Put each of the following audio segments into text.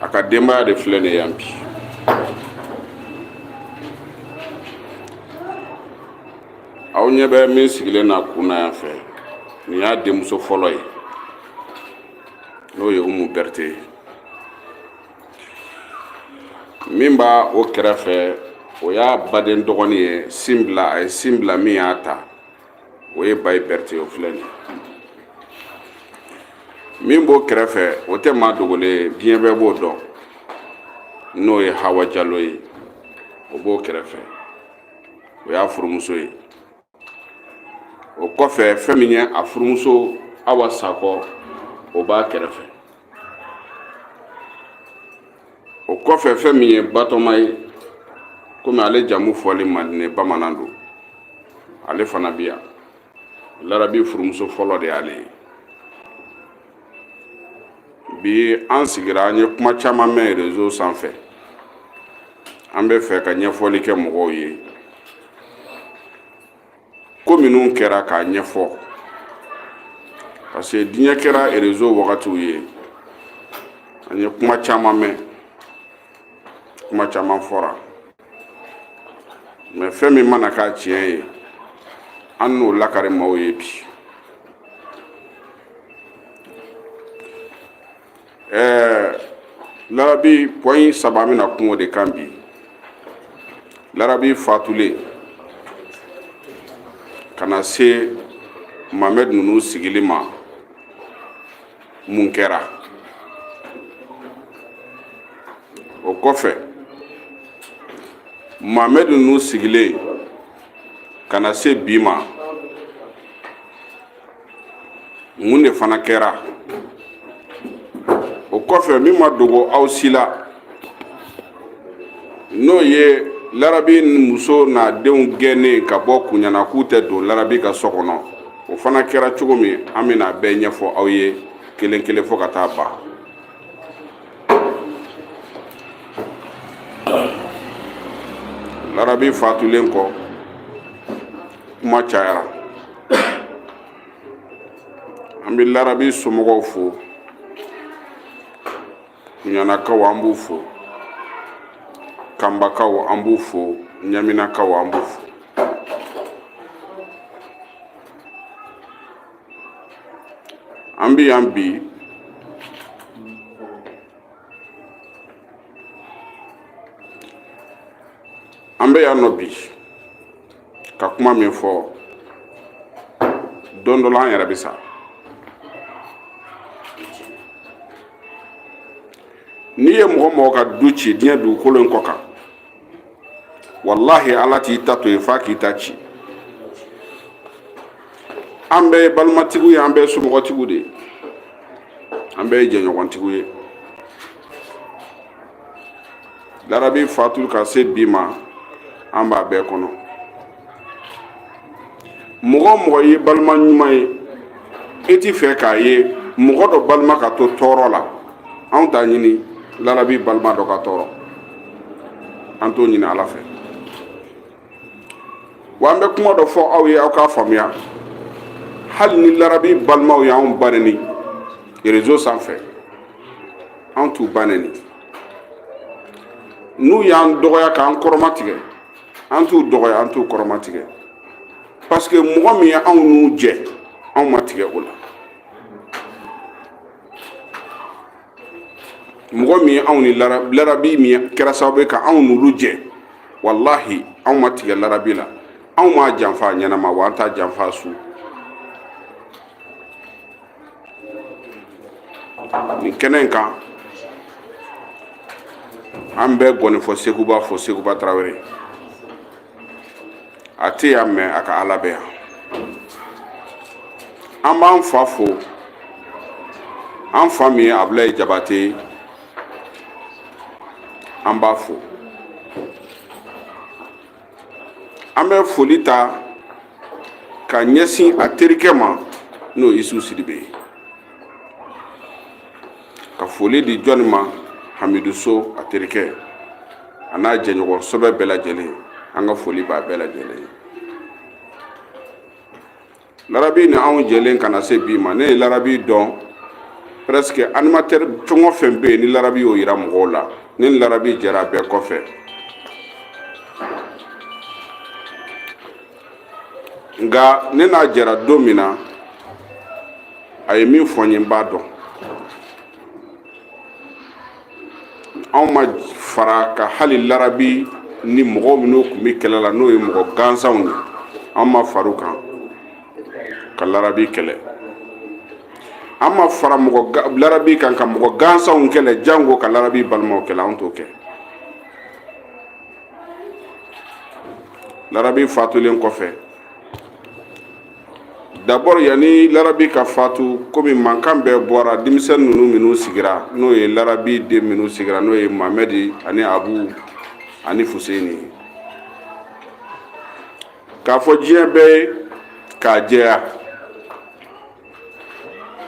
a ka denbaya de filɛ nin yan bi aw ɲɛ bɛ min sigilen na kun na yan fɛ nin y'a denmuso fɔlɔ ye n'o ye umu berete ye min b'a o kɛrɛfɛ o y'a baden dɔgɔnin ye sin bila a ye sin bila min y'a ta o ye bayi berete o filɛ nin min b'o kɛrɛfɛ o tɛ maa dogolen ye diɲɛ bɛɛ b'o dɔn n'o ye hawa jalo ye o b'o kɛrɛfɛ o y'a furumuso ye o kɔfɛ fɛn min ye a furumuso awa sakɔ o b'a kɛrɛfɛ o kɔfɛ fɛn min ye batɔma ye komi ale jamu fɔli man di n ye bamanan don ale fana bɛ yan larabi furumuso fɔlɔ de y'ale ye bi an sigira an ye kuma caman mɛn rezo sanfɛ an bɛ fɛ ka ɲɛfɔli kɛ mɔgɔw ye ko minnu kɛra k'a ɲɛfɔ parce que diɲɛ kɛra erezo wagatiw ye an ye kuma caman mɛn kuma caman fɔra mɛ fɛn min mana k'a tiɲɛ ye an n'o lakari maaw ye bi ɛɛ larabi point saba n bɛna kuma o de kan bi larabi fatulen ka na se mamɛd ninnu sigili ma mun kɛra o kɔfɛ mamɛd ninnu sigilen ka na se bi ma mun de fana kɛra o kɔfɛ min ma dogo aw si la n'o ye larabi muso n'a denw gɛnnen ka bɔ kuɲana k'u tɛ don larabi ka so kɔnɔ o fana kɛra cogo min an bɛna bɛɛ ɲɛfɔ aw ye kelen kelen fo ka taa ban larabi fatulen kɔ kuma cayara an bɛ larabi somɔgɔw fo kuɲanakaw an b'u fo kanbakaw an b'u fo ɲaminakaw an b'u fo an bɛ yan bi an bɛ yan nɔ bi ka kuma min fɔ don dɔ la an yɛrɛ bɛ sa n'i ye mɔgɔ mɔgɔ ka du ci diɲɛ dugukolo in kɔ kan walahi ala t'i ta to yen f'a k'i ta ci an bɛɛ ye balimatigiw ye an bɛɛ ye somɔgɔtigiw de ye an bɛɛ ye jɛɲɔgɔntigiw ye larabi fatulen ka se bi ma an b'a bɛɛ kɔnɔ mɔgɔ o mɔgɔ ye balima ɲuman ye e ti fɛ k'a ye mɔgɔ dɔ balima ka to tɔɔrɔ la anw t'a ɲini larabi balima dɔ ka tɔɔrɔ an t'o ɲini ala fɛ Wa an bɛ kuma dɔ fɔ aw ye aw k'a faamuya hali ni larabi balimaw y'an ba neni réseau sanfɛ an t'u ba neni n'u y'an dɔgɔya k'an kɔrɔmatigɛ an t'u dɔgɔya an t'u kɔrɔmatigɛ parce que mɔgɔ min ye anw n'u jɛ anw ma tigɛ o la mɔgɔ min ye anw ni larabi min kɛra sababu ye ka anw n'olu jɛ walahi anw ma tigɛ larabi la anw m'a janfa a ɲɛnama wa an t'a janfa a su nin kɛnɛ in kan an bɛ gɔnifɔ seguba fo seguba tarawele a tɛ yan mais a ka ala bɛ yan an b'an fa fo an fa min ye abulayi jabate ye an b'a fo an bɛ foli ta ka ɲɛsin a terikɛ ma n'o ye isu sidibe ye ka foli di jɔni ma hamidu so a terikɛ a n'a jɛɲɔgɔn sɛbɛ bɛɛ lajɛlen an ka foli b'a bɛɛ lajɛlen ye larabi ni anw jɛlen ka na se bi ma ne ye larabi dɔn presque animateur fɛn o fɛn bɛ yen ni larabi y'o yira mɔgɔw la ne ni larabi jɛra bɛɛ kɔfɛ nka ne n'a jɛra don min na a ye min fɔ n ye n b'a dɔn anw ma fara ka hali larabi ni mɔgɔ minnu tun bɛ kɛlɛ la n'o ye mɔgɔ gansanw ye an ma fara u kan ka larabi kɛlɛ an ma fara larabi kan ka mɔgɔ gansanw kɛlɛ jango ka larabi balimaw kɛlɛ an t'o kɛ larabi fatulen kɔfɛ d'abord yanni larabi ka fatu komi mankan bɛɛ bɔra denmisɛn ninnu minnu sigira n'o ye larabi den minnu sigira n'o ye mamɛdi ani abu ani fuseni k'a fɔ diɲɛ bɛɛ ye k'a jɛya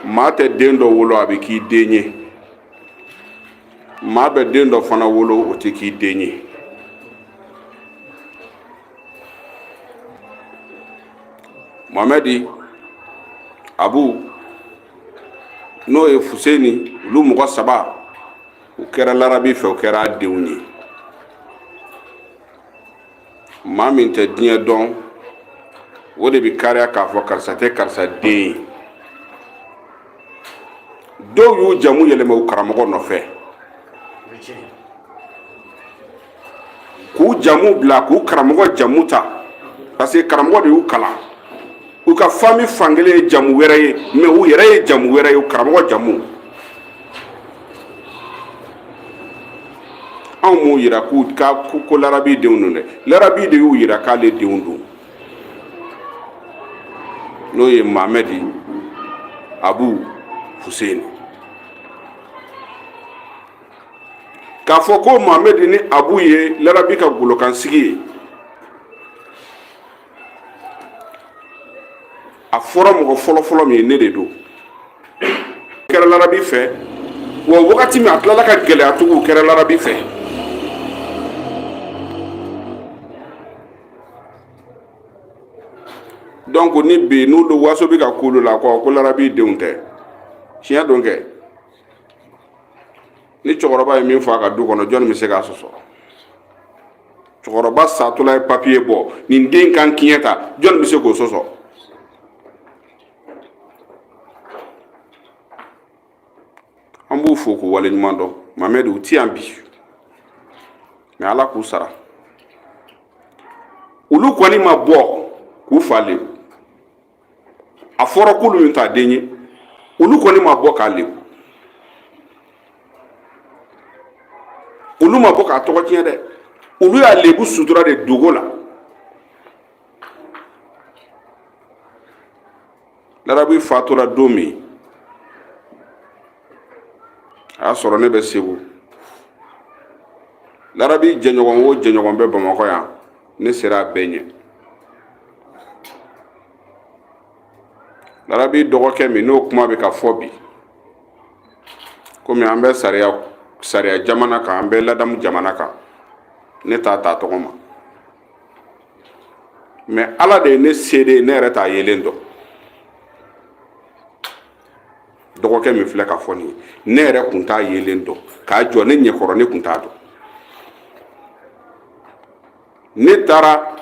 maa tɛ den dɔ wolo a bɛ k'i den ye maa bɛ den dɔ fana wolo o tɛ k'i den ye mamɛdi abu n'o ye fuseni olu mɔgɔ saba u kɛra larabi fɛ u kɛra a denw ye maa min tɛ diɲɛ dɔn o de bɛ kariya k'a fɔ karisa tɛ karisa den ye dɔw y'u jamu yɛlɛma u karamɔgɔ nɔfɛ k'u jamu bila k'u karamɔgɔ jamu ta parce que karamɔgɔ de y'u kalan u ka fami fankelen ye jamu wɛrɛ ye mais u yɛrɛ ye jamu wɛrɛ ye u karamɔgɔ jamu anw m'u yira ko larabi denw don dɛ larabi de y'u yira k'ale denw don n'o ye mamɛdi abu huseni k'a fɔ ko mamɛdi ni abu ye larabi ka golokansigi ye a fɔra mɔgɔ fɔlɔfɔlɔ min ye ne de don kɛra larabi fɛ wa wagati min a tilala ka gɛlɛya tugu kɛra larabi fɛ donc ni bi n'u don waso bɛ ka k'olu la kɔ ko larabi denw tɛ tiɲɛ don kɛ ni cɛkɔrɔba ye min fɔ a ka du kɔnɔ jɔnni bɛ se k'a sɔsɔ cɛkɔrɔba satɔla ye papiye bɔ nin den kan kiɲɛ ta jɔnni bɛ se k'o sɔsɔ an b'u fo k'u waleɲuman dɔn mamɛdi u ti yan bi mais ala k'u sara olu kɔni ma bɔ k'u fa le a fɔra k'olu min t'a den ye olu kɔni ma bɔ k'a lebu olu ma bɔ k'a tɔgɔ tiɲɛ dɛ olu y'a lebu sutura de dogo la larabi fatura don min a y'a sɔrɔ ne bɛ segu larabi jɛɲɔgɔn o jɛɲɔgɔn bɛ bamakɔ yan ne sera a bɛɛ ɲɛ larabi dɔgɔkɛ min n'o kuma bɛ ka fɔ bi komi an bɛ sariya jamana kan an bɛ ladamu jamana kan ne t'a ta tɔgɔ ma mɛ ala de ye ne seede ne yɛrɛ t'a yelen dɔn dɔgɔkɛ min filɛ ka fɔ nin ye ne yɛrɛ kun t'a yelen dɔn k'a jɔ ne ɲɛkɔrɔ ne kun t'a dɔn ne taara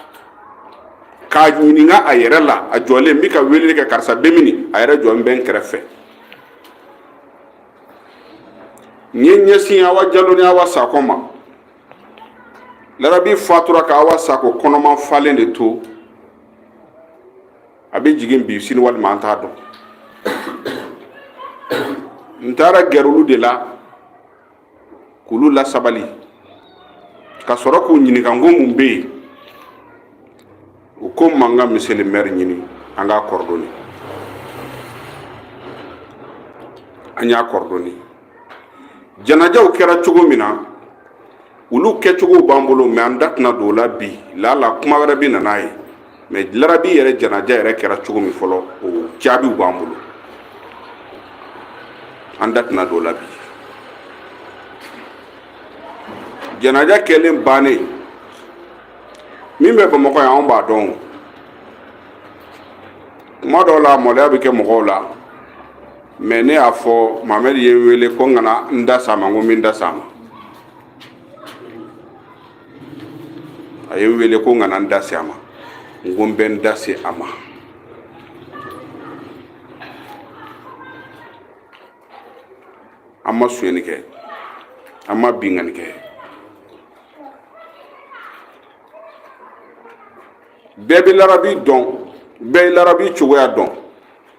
k'a ɲininka a yɛrɛ la a jɔlen n bɛ ka weleli kɛ karisa bɛ mini a yɛrɛ jɔlen bɛ n kɛrɛfɛ n ye n ɲɛsin awa jalo ni awa sakɔ ma larabi fatura ka awa sakɔ kɔnɔma falen de to a bɛ jigin bi sini walima an t'a dɔn n taara gɛrɛ olu de la k'olu lasabali ka sɔrɔ k'u ɲininka n ko mun bɛ yen u ko n ma n ka monsieur le maire ɲini an k'a kɔrɔdɔni an y'a kɔrɔdɔni janajaw kɛra cogo min na olu kɛcogow b'an bolo mɛ an da tɛna don o la bi lala kuma wɛrɛ bɛ na n'a ye mɛ larabi yɛrɛ janaja yɛrɛ kɛra cogo min fɔlɔ o jaabiw b'an bolo an da tɛna don o la bi janaja kɛlen bannen min bɛ bamakɔ yan anw b'a dɔn kuma dɔw la maloya bɛ kɛ mɔgɔw la mɛ ne y'a fɔ mamɛdi ye n wele ko n kana n da se a ma n ko n bɛ n da se a ma a ye n wele ko n kana n da se a ma n ko n bɛ n da se a ma an ma sonyɛni kɛ an ma binkanni kɛ bɛɛ bɛ larabi dɔn bɛɛ ye larabi cogoya dɔn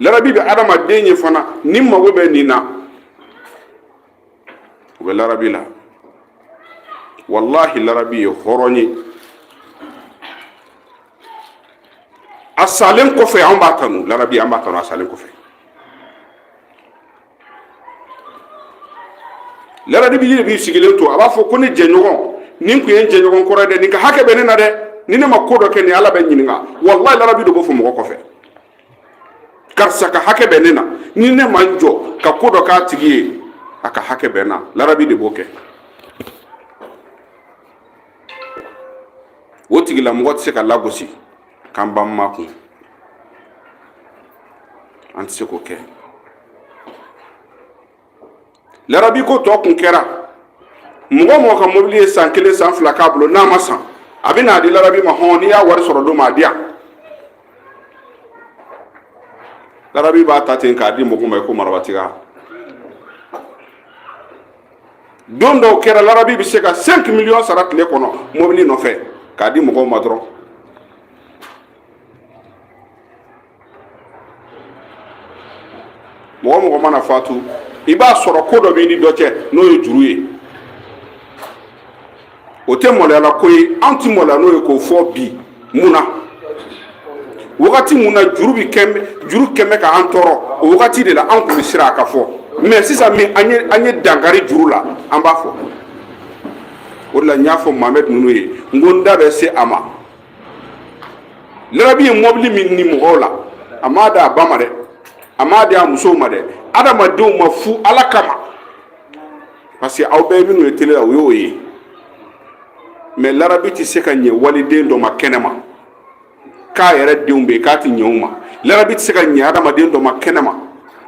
larabi bɛ adamaden ye fana ni mago bɛ nin na o bɛ larabi la walahi larabi ye hɔrɔn ye a salen kɔfɛ an b'a kanu larabi an b'a kanu a salen kɔfɛ larabi de b'i sigilen to a b'a fɔ ko ne jɛɲɔgɔn nin tun ye n jɛɲɔgɔn kɔrɔ ye dɛ nin ka hakɛ bɛ ne na dɛ ni ne ma ko dɔ kɛ nin ala bɛ n ɲininka walayi larabi de b'o fɔ mɔgɔ kɔfɛ karisa ka hakɛ bɛ ne na ni ne ma n jɔ ka ko dɔ k'a tigi ye a ka hakɛ bɛ n na larabi de b'o kɛ o tigilamɔgɔ tɛ se ka lagosi k'an b'an makun an tɛ se k'o kɛ larabi ko tɔ kun kɛra mɔgɔ o mɔgɔ ka mobili ye san kelen san fila k'a bolo n'a ma san a bɛ n'a di larabi ma hɔn n'i y'a wari sɔrɔ don ma a di yan larabi b'a ta ten k'a di mɔgɔ ma i ko marabatiga don dɔw kɛra larabi bɛ se ka 5 miliyɔn sara tile kɔnɔ mobili nɔfɛ k'a di mɔgɔw ma dɔrɔn mɔgɔ o mɔgɔ mana fatu i b'a sɔrɔ ko dɔ b'i ni dɔ cɛ n'o ye juru ye o tɛ maloyala ko ye an tɛ maloya n'o ye k'o fɔ bi mun na wagati min na juru bɛ juru kun bɛ ka an tɔɔrɔ o wagati de la an tun bɛ siran a ka fɔ mais sisan min an ye an ye dankari juru la an b'a fɔ o de la n y'a fɔ mahamɛd ninnu ye n ko n da bɛ se a ma larabi ye mobili min ni mɔgɔw la a m'a di a ba ma dɛ a m'a di a musow ma dɛ adamadenw ma fu ala kama parce que aw bɛ minnu ye tele la o y'o ye mais larabi tɛ se ka ɲɛ waliden dɔ ma kɛnɛ ma k'a yɛrɛ denw bɛ yen k'a tɛ ɲɛ u ma larabi tɛ se ka ɲɛ adamaden dɔ ma kɛnɛ ma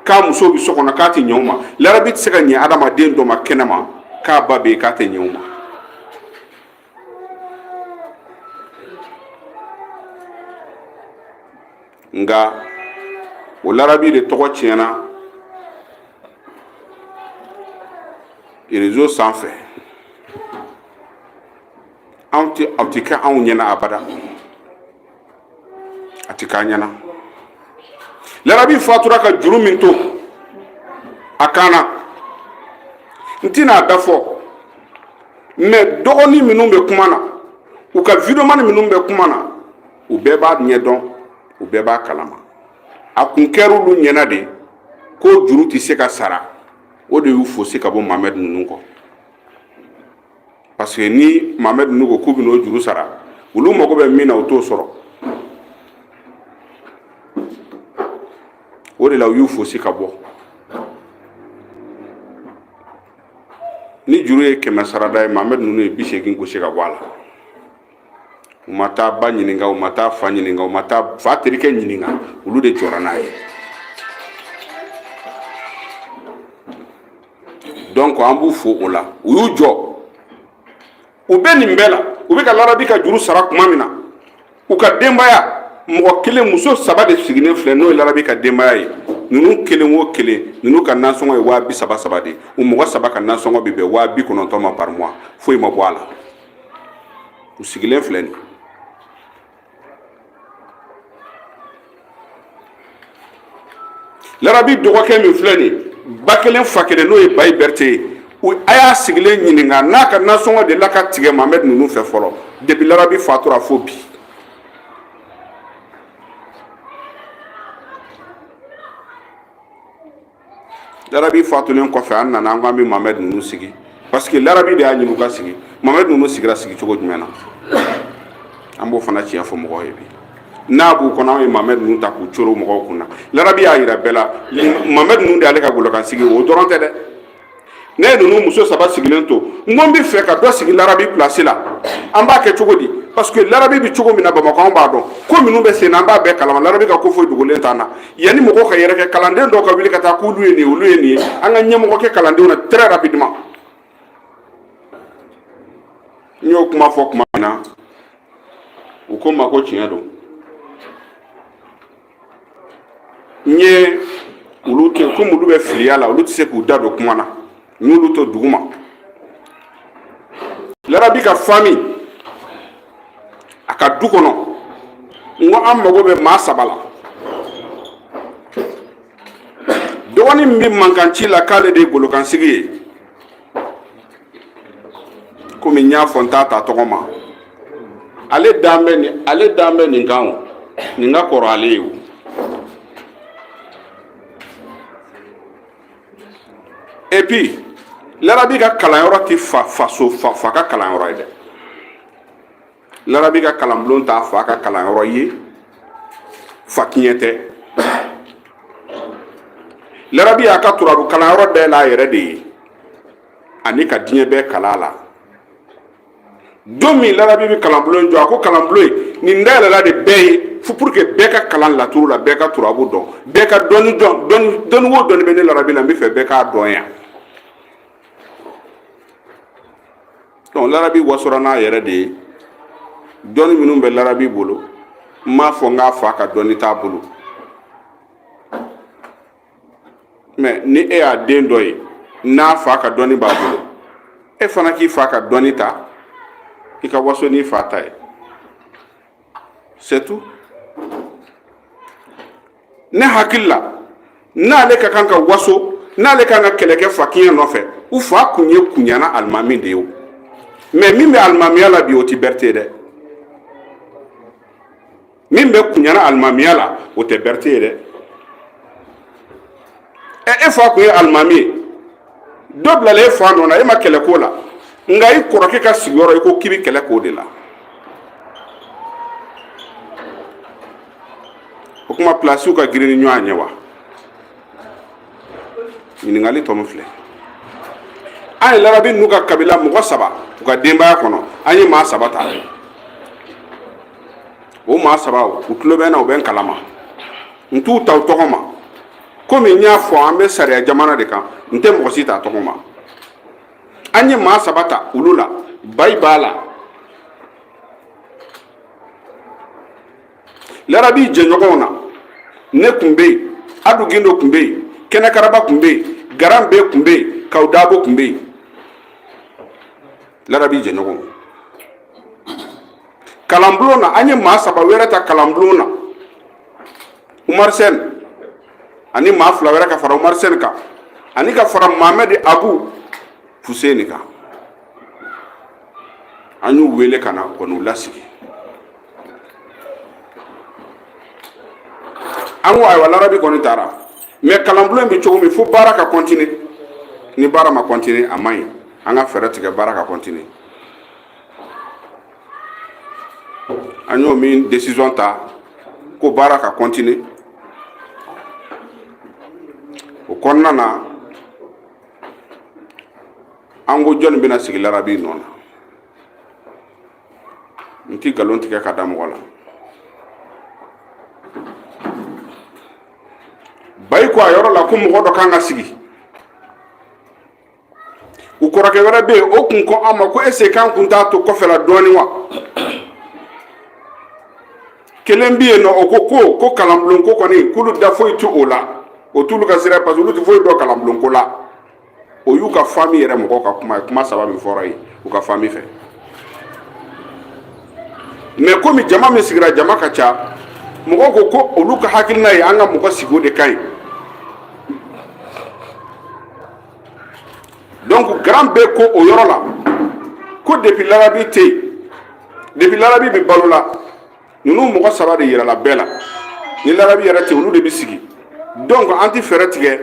k'a musow bɛ so kɔnɔ k'a tɛ ɲɛ u ma larabi tɛ se ka ɲɛ adamaden dɔ ma kɛnɛ ma k'a ba bɛ yen k'a tɛ ɲɛ u ma nka o larabi de tɔgɔ tiɲɛna rezo sanfɛ a tɛ kɛ anw ɲɛna abada a tɛ k'an ɲɛna larabi fatura ka juru min to a kan na n tɛna a da fɔ mais dɔgɔnin minnu bɛ kuma na u ka videomani minnu bɛ kuma na u bɛɛ b'a ɲɛ dɔn u bɛɛ b'a kalama a kun kɛra olu ɲɛna de ko juru tɛ se ka sara o de y'u fosi ka bɔ mamɛd ninnu kɔ parce que ni mamɛd ninnu ko k'u bɛn'o juru sara olu mago bɛ min na u t'o sɔrɔ o de la u y'u fosi ka bɔ ni juru ye kɛmɛ sarada ye mamɛd ninnu ye bi seegin gosi ka bɔ a la u ma taa ba ɲininka u ma taa fa ɲininka u ma taa fa terikɛ ɲininka olu de jɔra n'a ye donc an b'u fo o la u y'u jɔ u bɛ nin bɛɛ la u bɛ ka larabi ka juru sara tuma min na u ka denbaya mɔgɔ kelen muso saba de sigilen filɛ n'o ye larabi ka denbaya ye ninnu kelen o kelen ninnu ka nansɔngɔ ye waa bi saba saba de ye u mɔgɔ saba ka nansɔngɔ bɛ bɛn waa bi kɔnɔntɔn ma par mois foyi ma bɔ a la u sigilen filɛ nin larabi dɔgɔkɛ min filɛ nin ba kelen fa kelen n'o ye bayi berete ye a y'a sigilen ɲininka n'a ka nasɔngɔ de la ka tigɛ mamɛd ninnu fɛ fɔlɔ depi larabi fatura fo bi larabi fatulen kɔfɛ an nana an ko an bɛ mamɛd ninnu sigi parce que larabi de y'a ɲini u ka sigi mamɛd ninnu sigira sigi cogo jumɛn na an b'o fana tiɲɛ fɔ mɔgɔw ye bi n'a b'u kɔnɔ an ye mamɛd ninnu ta k'u coro mɔgɔw kun na larabi y'a yira bɛɛ la mamɛd ninnu de y'ale ka golokansigi o dɔrɔn tɛ dɛ ne ye ninnu muso saba sigilen to n ko n bɛ fɛ ka dɔ sigi larabi pilasi la an b'a kɛ cogo di parce que larabi bɛ cogo min na bamakɔ an b'a dɔn ko minnu bɛ sen na an b'a bɛɛ kalama larabi ka ko foyi dogolen t'an na yanni mɔgɔw ka yɛrɛ kɛ kalanden dɔw ka wuli ka taa k'olu ye nin ye olu ye nin ye an ka ɲɛmɔgɔ kɛ kalandenw na très rapidement n y'o kuma fɔ tuma min na u ko n ma ko tiɲɛ don n ye olu to komi olu bɛ filiya la olu tɛ se k'u da don kuma na n y'olu to duguma larabi ka fami a ka du kɔnɔ n ko an mago bɛ maa saba la dɔgɔnin min bɛ mankanci la k'ale de ye golokansigi ye komi n y'a fɔ n t'a ta tɔgɔ ma ale ale dan bɛ nin kan o nin ka kɔrɔ ale ye o et puis larabi ka kalanyɔrɔ ti fa faso a fa ka kalanyɔrɔ ye dɛ larabi ka kalanbulon t'a fa ka kalanyɔrɔ ye fa kiɲɛ tɛ larabi y'a ka turabu kalanyɔrɔ dayɛlɛ a yɛrɛ de ye ani ka diɲɛ bɛɛ kala la don min larabi bɛ kalanbulon in jɔ a ko kalanbulon in nin dayɛlɛla de bɛɛ ye fo pour que bɛɛ ka kalan laturu la bɛɛ ka turabu dɔn bɛɛ ka dɔnni dɔn dɔnni wo dɔnni bɛ ne larabi la n bɛ fɛ bɛɛ k'a dɔn yan donc larabi wasora n'a yɛrɛ de ye dɔnni minnu bɛ larabi bolo n m'a fɔ n k'a fa ka dɔnni t'a bolo mɛ ni e y'a den dɔ ye n'a fa ka dɔnni b'a bolo e fana k'i fa ka dɔnni ta i ka waso n'i fa ta ye c'est tout ne hakili la n'ale ka kan ka waso n'ale ka kan ka kɛlɛ kɛ fa kiɲɛ nɔfɛ u fa kun ye kunyana alimami de ye o mɛ min bɛ alimamiya la bi o ti berete dɛ min bɛ kuɲana alimamiya la o tɛ berete ye dɛ ɛ e fa kun ye alimami ye dɔ bilala e fa nɔ na e ma kɛlɛ k'o la nka i kɔrɔkɛ ka sigiyɔrɔ i ko k'i bɛ kɛlɛ k'o de la o kuma pilasiw ka girin ni ɲɔgɔn ɲɛ wa ɲininkali tɔ min filɛ an ye larabi n'u ka kabila mɔgɔ saba u ka denbaya kɔnɔ an ye maa saba ta o maa saba u tulo bɛ n na u bɛ n kalama n t'u ta u tɔgɔ ma komi n y'a fɔ an bɛ sariya jamana de kan n tɛ mɔgɔ si ta tɔgɔ ma an ye maa saba ta olu la bayi b'a la larabi jɛɲɔgɔnw na ne kun bɛ yen adu gindo kun bɛ yen kɛnɛkaraba kun bɛ yen garan bɛ kun bɛ yen kaw dabo kun bɛ yen larabi jɛɲɔgɔnw kalanbulon na an ye maa saba wɛrɛ ta kalanbulon na umaru sɛni ani maa fila wɛrɛ ka fara umaru sɛni kan ani ka fara mamɛdi abu fuseni kan an y'u wele ka na ka n'u lasigi an ko ayiwa larabi kɔni taara mɛ kalanbulon bɛ cogo min fo baara ka kɔntine ni baara ma kɔntine a man ɲi an ka fɛɛrɛ tigɛ baara ka kɔntine an y'o min desizɔn ta ko baara ka kɔntine o kɔnɔna na an ko jɔnni bɛna sigi larabi nɔ na n ti nkalon tigɛ ka da mɔgɔ la bayi ko a yɔrɔ la ko mɔgɔ dɔ kan ka sigi u kɔrɔkɛ wɛrɛ bɛ yen o kun ko an ma ko ese k'an kun t'a to kɔfɛla dɔɔnin wa kelen bɛ yen nɔ o ko ko ko kalanbulon ko kɔni k'olu da foyi t'o la o t'olu ka sira parce que olu tɛ foyi dɔn kalanbulon ko la o y'u ka fami yɛrɛ mɔgɔw ka kuma ye kuma saba min fɔra yen u ka fami fɛ mɛ komi jama min sigira jama ka ca mɔgɔw ko ko olu ka hakilina ye an ka mɔgɔ sigi o de ka ɲi donc grand bɛ ko o yɔrɔ la ko depuis larabi tɛ yen depuis larabi bɛ balo la ninnu mɔgɔ saba de yirala bɛɛ la ni larabi yɛrɛ tɛ olu de bɛ sigi donc an tɛ fɛɛrɛ tigɛ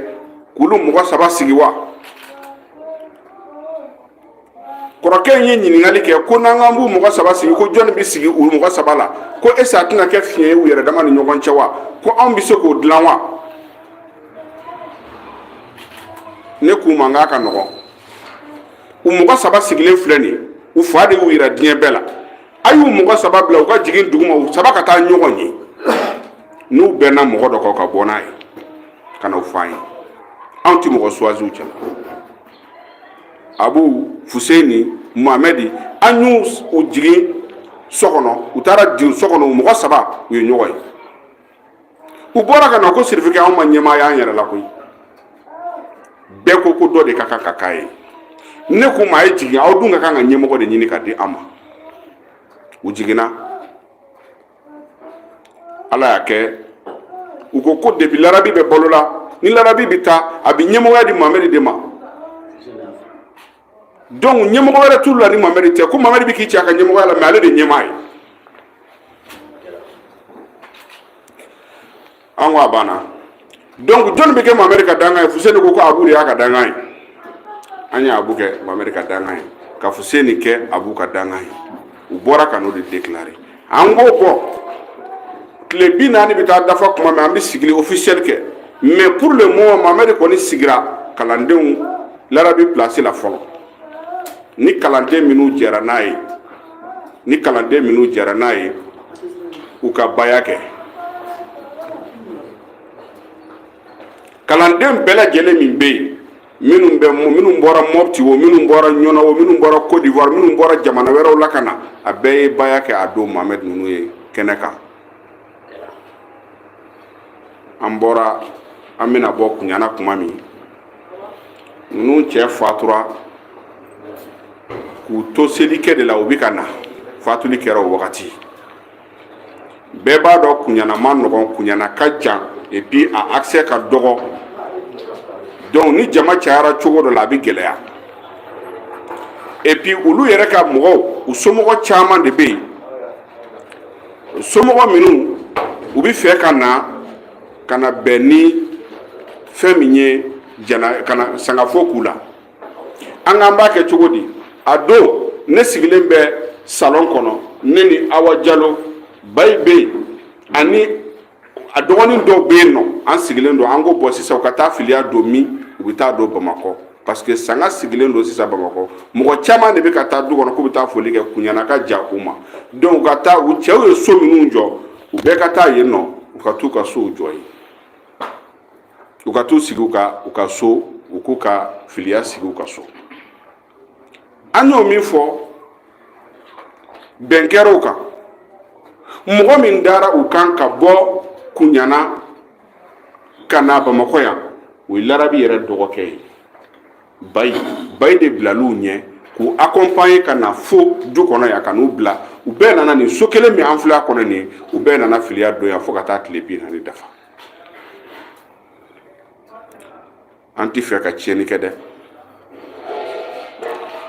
k'olu mɔgɔ saba sigi wa kɔrɔkɛ in ye ɲininkali kɛ ko n'an k'an b'u mɔgɔ saba sigi ko jɔnni bɛ sigi u mɔgɔ saba la ko est-ce que a tɛna kɛ fiɲɛ ye u yɛrɛ dama ni ɲɔgɔn cɛ wa ko anw bɛ se k'o dilan wa ne k'u ma k'a ka nɔgɔn u mɔgɔ saba sigilen filɛ nin ye u fa de y'u yira diɲɛ bɛɛ la a y'u mɔgɔ saba bila u ka jigin duguma u saba ka taa ɲɔgɔn ye n'u bɛnna mɔgɔ dɔ kan ka bɔ n'a ye ka n'o f'an ye anw tɛ mɔgɔ choisir u cɛ la abu fuseni muhamɛdi an y'u jigin so kɔnɔ u taara jigin so kɔnɔ u mɔgɔ saba u ye ɲɔgɔn ye u bɔra ka na ko sirifikɛ anw ma ɲɛmaa y'an yɛrɛ la koyi bɛɛ ko ko dɔ de ka kan ka k'a ye ne k'u ma a ye jigin aw dun ka kan ka ɲɛmɔgɔ de ɲini ka di an ma u jiginna ala y'a kɛ u ko ko depuis larabi bɛ balo la ni larabi bɛ taa a bɛ ɲɛmɔgɔya di muhamɛdi de ma donc ɲɛmɔgɔ wɛrɛ t'u la ni muhamɛdi tɛ ko muhamɛdi bɛ k'i cɛ a ka ɲɛmɔgɔya la mais ale de ɲɛmaa ye an ko a banna donc jɔnni bɛ kɛ muhamɛdi ka dankan ye fuseni ko ko abu de y'a ka dankan ye an ye abu kɛ muhamɛdi ka dankan ye ka fuseni kɛ abu ka dankan ye u bɔra ka n'o de déclarer an ko ko tile bi naani bɛ taa dafa kuma min an bɛ sigili officiel kɛ mais pour le moment muhamɛdi kɔni sigira kalandenw larabi place la fɔlɔ ni kalanden minnu jɛra n'a ye ni kalanden minnu jɛra n'a ye u ka baya kɛ kalanden bɛɛ lajɛlen min bɛ yen minnu bɛ minnu bɔra mɔpti o minnu bɔra ɲɔnɔ o minnu bɔra côte d'ivoire minnu bɔra jamana wɛrɛw la ka na a bɛɛ ye baya kɛ a don muhamɛdi ninnu ye kɛnɛ kan an bɔra an bɛna bɔ kuɲana kuma min ninnu cɛ fatura k'u to selikɛ de la u bɛ ka na fatuli kɛra o wagati bɛɛ b'a dɔn kuɲana man nɔgɔn kuɲana ka jan et puis a accès ka dɔgɔ donc ni jama cayara cogo dɔ la a bɛ gɛlɛya et puis olu yɛrɛ ka mɔgɔw u somɔgɔ caman de bɛ yen somɔgɔ minnu u bɛ fɛ ka na ka na bɛn ni fɛn min ye jana ka na sangafo k'u la an k'an b'a kɛ cogo di a don ne sigilen bɛ salon kɔnɔ ne ni awa jalo bayi bɛ yen ani a dɔgɔnin dɔw bɛ yen nɔ an sigilen don an ko bon sisan u ka taa filiya don min u bɛ taa don bamakɔ parce que sanga sigilen don sisan bamakɔ mɔgɔ caman de bɛ ka taa du kɔnɔ k'u bɛ taa foli kɛ kuɲana ka jan u ma donc u ka taa u cɛw ye so minnu jɔ u bɛɛ ka taa yen nɔ u ka t'u ka sow jɔ yen u ka t'u sigi u ka u ka so u k'u ka filiya sigi u ka so an y'o min fɔ bɛn kɛr'o kan mɔgɔ min dara u kan ka bɔ kuɲana ka na bamakɔ yan o ye larabi yɛrɛ dɔgɔkɛ ye bayi bayi de bilal'u ɲɛ k'u accompagner ka na fo du kɔnɔ yan ka n'u bila u bɛɛ nana nin so kelen min an filɛ a kɔnɔ nin u bɛɛ nana filiya don yan fo ka taa tile bi naani dafa an tɛ fɛ ka tiɲɛni kɛ dɛ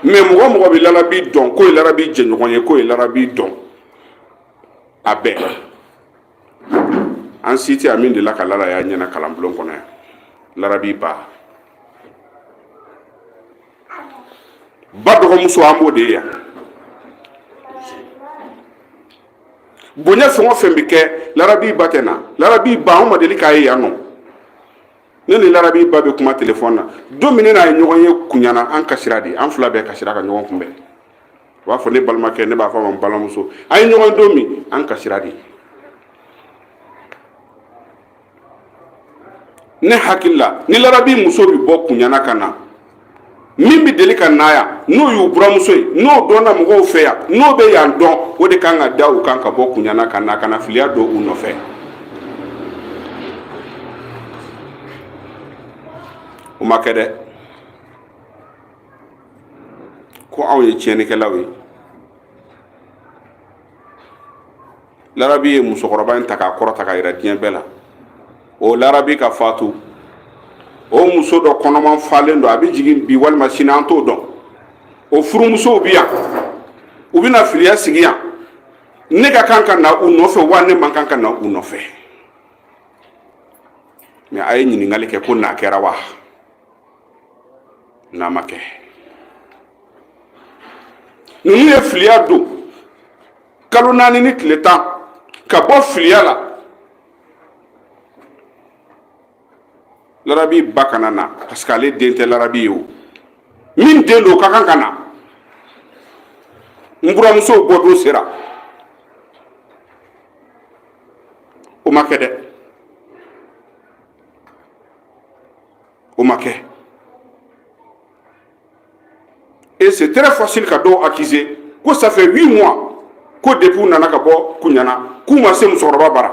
mais mɔgɔ o mɔgɔ bɛ larabi dɔn k'o ye larabi jɛɲɔgɔn ye k'o ye larabi dɔn a bɛɛ an si tɛ a min delila ka lala y'a ɲɛ na kalanbulon kɔnɔ yan larabi ba ba dɔgɔmuso an b'o de ye yan bonya fɛn o fɛn bɛ kɛ larabi ba tɛ na larabi ba anw ma deli k'a ye yan nɔ ne ni larabi ba bɛ kuma telefɔni na don min ne n'a ye ɲɔgɔn ye kuɲana an kasira de an fila bɛɛ kasira ka ɲɔgɔn kunbɛn u b'a fɔ ne balimakɛ ne b'a fɔ a ma n balimamuso an ye ɲɔgɔn don min an kasira de ne hakili la ni larabi muso bɛ bɔ kuɲana ka na min bɛ deli ka na yan n'o y'u buramuso ye n'o dɔnna mɔgɔw fɛ yan n'o bɛ yan dɔn o de kan ka da u kan ka bɔ kuɲana ka na ka na filiya don u nɔfɛ o ma kɛ dɛ ko anw ye tiɲɛnikɛlaw ye larabi ye musokɔrɔba in ta k'a kɔrɔta k'a yira diɲɛ bɛɛ la o larabi ka fatu o muso dɔ kɔnɔman falen don a bɛ jigin bi walima sini an t'o dɔn o furumusow bɛ yan u bɛna filiya sigi yan ne ka kan ka na u nɔfɛ wa ne man kan ka na u nɔfɛ mais a ye ɲininkali kɛ ko n'a kɛra wa n'a ma kɛ ninnu ye filiya don kalo naani ni tile tan ka bɔ filiya la larabi ba kana na parce que ale den tɛ larabi ye o min den don ka kan ka na n buramusow bɔdon sera o ma kɛ dɛ o ma kɛ et c'est très facile ka dɔw accuser ko ça fait 8 mois ko depuis u nana ka bɔ kuɲana k'u ma se musokɔrɔba bara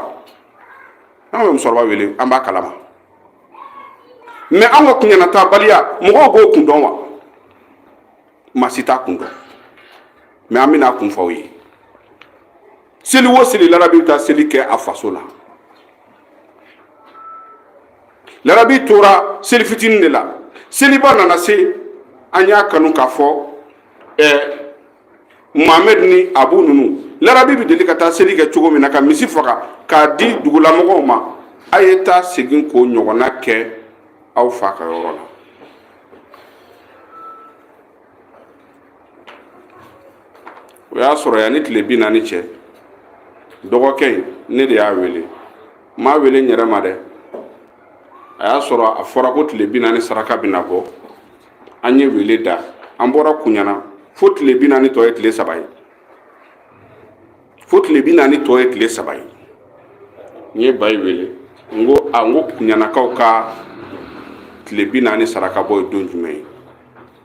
an bɛ musokɔrɔba wele an b'a kalama mais an ka kuɲana taabaliya mɔgɔw b'o kun dɔn wa maa si t'a kun dɔn mais an bɛna a kun fɔ aw ye seli o seli larabi bɛ taa seli kɛ a faso la larabi tora seli fitinin de la seliba nana se an y'a kanu k'a fɔ ɛɛ muhammed ni abu ninnu larabi bɛ deli ka taa seli kɛ cogo min na ka misi faga k'a di dugulamɔgɔw ma a ye taa segin k'o ɲɔgɔnna kɛ aw fa ka yɔrɔ la o y'a sɔrɔ yanni tile bi naani cɛ dɔgɔkɛ in ne de y'a wele n m'a wele n yɛrɛ ma dɛ a y'a sɔrɔ a fɔra ko tile bi naani saraka bɛna bɔ an ye wele da an bɔra kuɲana fo tile bi naani tɔ ye tile saba ye fo tile bi naani tɔ ye tile saba ye n ye bayi wele n ko a n ko kuɲanakaw ka tile bi naani saraka bɔ ye don jumɛn ye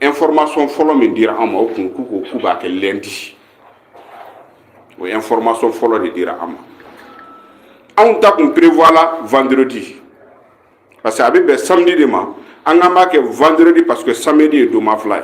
information fɔlɔ min dira an ma o kun k'u ko k'u b'a kɛ lundi o information fɔlɔ de dira an ma anw ta kun prévoir la vendredi parce que a bɛ bɛn samedi de ma an k'an b'a kɛ vendredi parce que samedi ye donma fila ye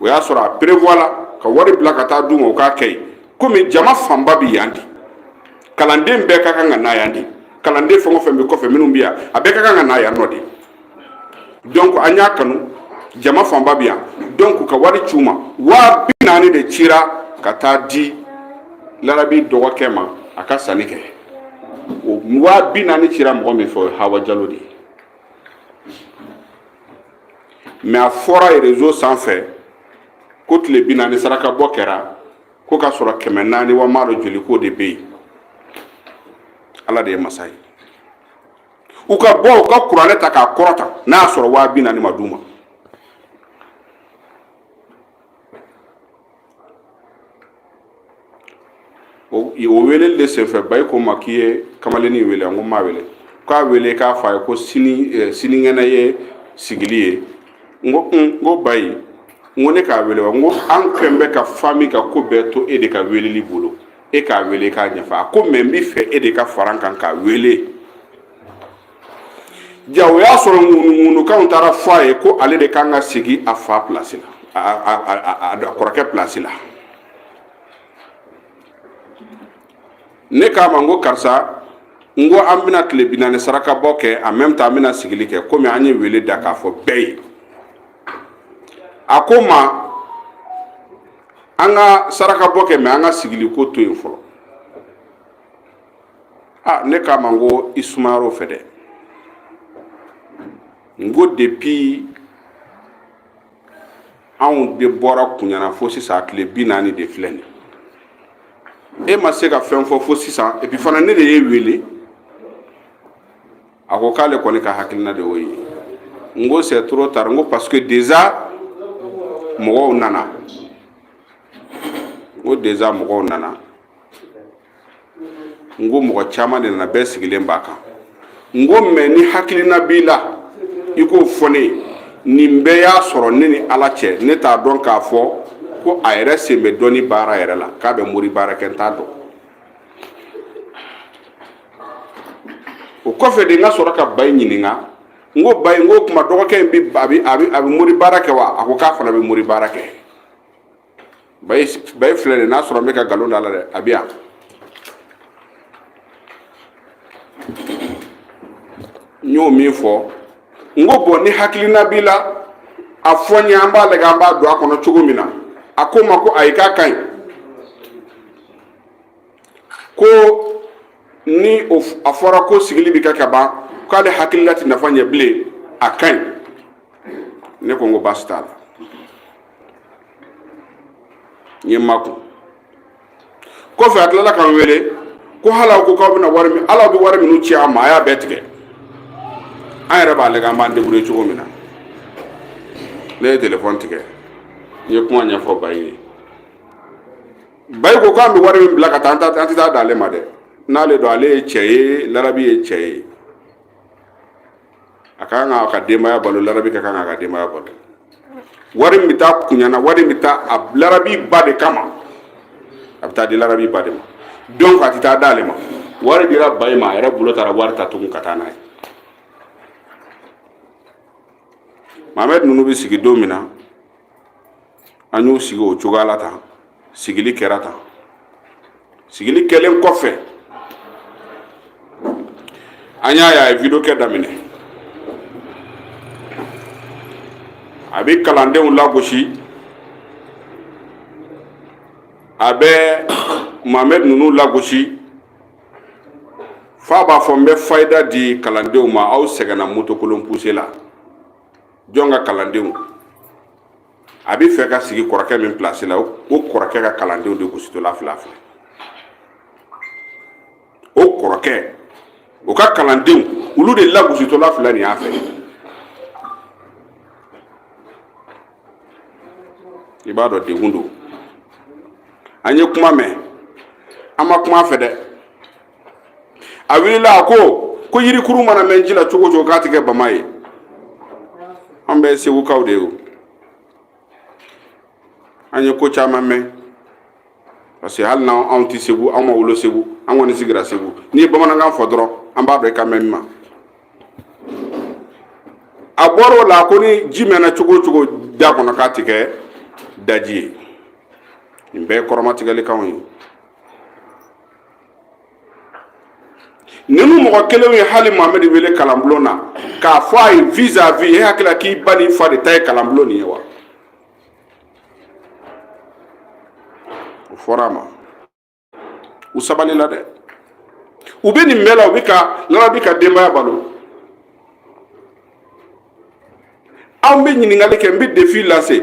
o y'a sɔrɔ a prévoir la ka wari bila ka taa d'u ma o k'a kɛ komi jama fanba bɛ yan de kalanden bɛɛ ka kan ka na yan de kalanden fɛn o fɛn bɛ kɔfɛ minnu bɛ yan a bɛɛ ka kan ka na yan nɔ de donc an y'a kanu jama fanba bɛ yan donc ka wari ci u ma waa bi naani de cira ka taa di larabi dɔgɔkɛ ma a ka sanni kɛ o waa bi naani cira mɔgɔ min fɛ o ye hawa jalo de ye mɛ a fɔra réseau sanfɛ ko tile bi naani saraka bɔ kɛra ko ka sɔrɔ kɛmɛ naani wa m'a dɔn joli ko de bɛ yen ala de ye masa ye u ka bɔ u ka kuranɛ ta k'a kɔrɔta n'a y'a sɔrɔ waa bi naani ma d'u ma o weeleli de senfɛ bayi ko n ma k'i ye kamalennin in wele wa n ko n m'a wele k'a wele k'a fɔ a ye ko sini eh, sinikɛnɛ ye sigili ye n ko un n ko bayi n ko ne k'a wele wa n ko an kɛlen bɛ ka fami ka ko bɛɛ to e de ka weleli bolo e k'a wele k'a ɲɛfɔ a ko mɛ n bɛ fɛ e de ka fara n kan k'a wele ja o y'a sɔrɔ ŋunuŋunukanw taara fɔ a ye ko ale de kan ka sigi a fa pilasi la a kɔrɔkɛ pilasi la ne k'a ma n ko karisa n ko an bɛna tile bi naani sarakabɔ kɛ en même temps an bɛna sigili kɛ komi an ye wele da k'a fɔ bɛɛ ye a ko n ma an ka sarakabɔ kɛ mɛ an ka sigili ko to yen fɔlɔ a ne k'a ma n ko i sumayara o fɛ dɛ n ko depuis anw de bɔra kunyana fo sisan a tile bi naani de filɛ nin e ma se ka fɛn fɔ fo sisan et puis fana ne de y'e wele a ko k'ale kɔni ka hakilina de y'o ye n ko c'est trop tard n ko parce que déjà mɔgɔw nana n ko déjà mɔgɔw nana n ko mɔgɔ caman de nana bɛɛ sigilen b'a kan n ko mais ni hakilina b'i la i k'o fɔ ne ye nin bɛɛ y'a sɔrɔ ne ni ala cɛ ne t'a dɔn k'a fɔ ko a yɛrɛ sen bɛ dɔnni baara yɛrɛ la k'a bɛ mori baara kɛ n t'a dɔn o kɔfɛ de n ka sɔrɔ ka bayi ɲininka n ko bayi n ko kuma dɔgɔkɛ in bi a bi a bi a bi mori baara kɛ wa a ko k'a fana bɛ mori baara kɛ bayi bayi filɛ de n'a sɔrɔ n bɛ ka nkalon da la dɛ a bɛ yan n y'o min fɔ n ko bon ni hakilina b'i la a fɔ n ye an b'a lajɛ an b'a don a kɔnɔ cogo min na a ko n ma ko ayi k'a ka ɲi ko ni o f- a fɔra ko sigili bɛ kɛ ka ban k'ale hakilila tɛ nafa ɲɛ bilen a ka ɲi ne ko n ko baasi t'a la n ye n makun kɔfɛ a tilala k'an wele ko hali aw ko k'aw bɛna wari min hali aw bɛ wari minnu ci an ma a y'a bɛɛ tigɛ an yɛrɛ b'a lajɛ an b'an débrouiller cogo min na ne ye telefɔni tigɛ n ye kuma ɲɛfɔ bayi ye bayi ko k'an bɛ wari min bila ka taa an tɛ taa d'ale ma dɛ n'ale don ale ye cɛ ye larabi ye cɛ ye a ka kan k'a ka denbaya balo larabi ka kan k'a ka denbaya balo wari min bɛ taa kunyana wari min bɛ taa a larabi ba de kama a bɛ taa di larabi ba de ma donc a tɛ taa d'ale ma wari dira bayi ma a yɛrɛ bolo taara wari ta tugun ka taa n'a ye mahamɛdi ninnu bɛ sigi don min na an y'u sigi o cogoya la tan sigili kɛra tan sigili kɛlen kɔfɛ an y'a ye a ye video kɛ daminɛ a bɛ kalandenw lagosi a bɛ mamɛd ninnu lagosi f'a b'a fɔ n bɛ fayida di kalandenw ma aw sɛgɛnna motokolon puse la jɔn ka kalandenw a bɛ fɛ ka sigi kɔrɔkɛ min pilasi la o kɔrɔkɛ ka kalandenw de gositɔla filɛ filɛ o kɔrɔkɛ o ka kalandenw olu de lagositɔla filɛ nin y'a fɛ i b'a dɔn degun don an ye kuma mɛn an ma kuma a fɛ dɛ a wulila a ko ko yirikuru mana mɛn ji la cogo o cogo k'a ti kɛ bama ye an bɛ segukaw de ye o an ye ko caman mɛn parce que hali n'an anw ti segu anw ma wolo segu an kɔni sigira segu n'i ye bamanankan fɔ dɔrɔn an b'a dɔn i kan bɛ min ma a bɔr'o la ko ni ji mɛnna cogo o cogo da kɔnɔ k'a ti kɛ daji ye nin bɛɛ ye kɔrɔmatigɛlikanw ye ninnu mɔgɔ kelenw ye hali mohamɛd wele kalanbulon na k'a fɔ a ye vis à vis e hakilila k'i ba n'i fa de ta ye kalanbulon nin ye wa o fɔra a ma u sabalila dɛ u bɛ nin bɛɛ la u bɛ ka larabi ka denbaya balo anw bɛ ɲininkali kɛ n bɛ defi lase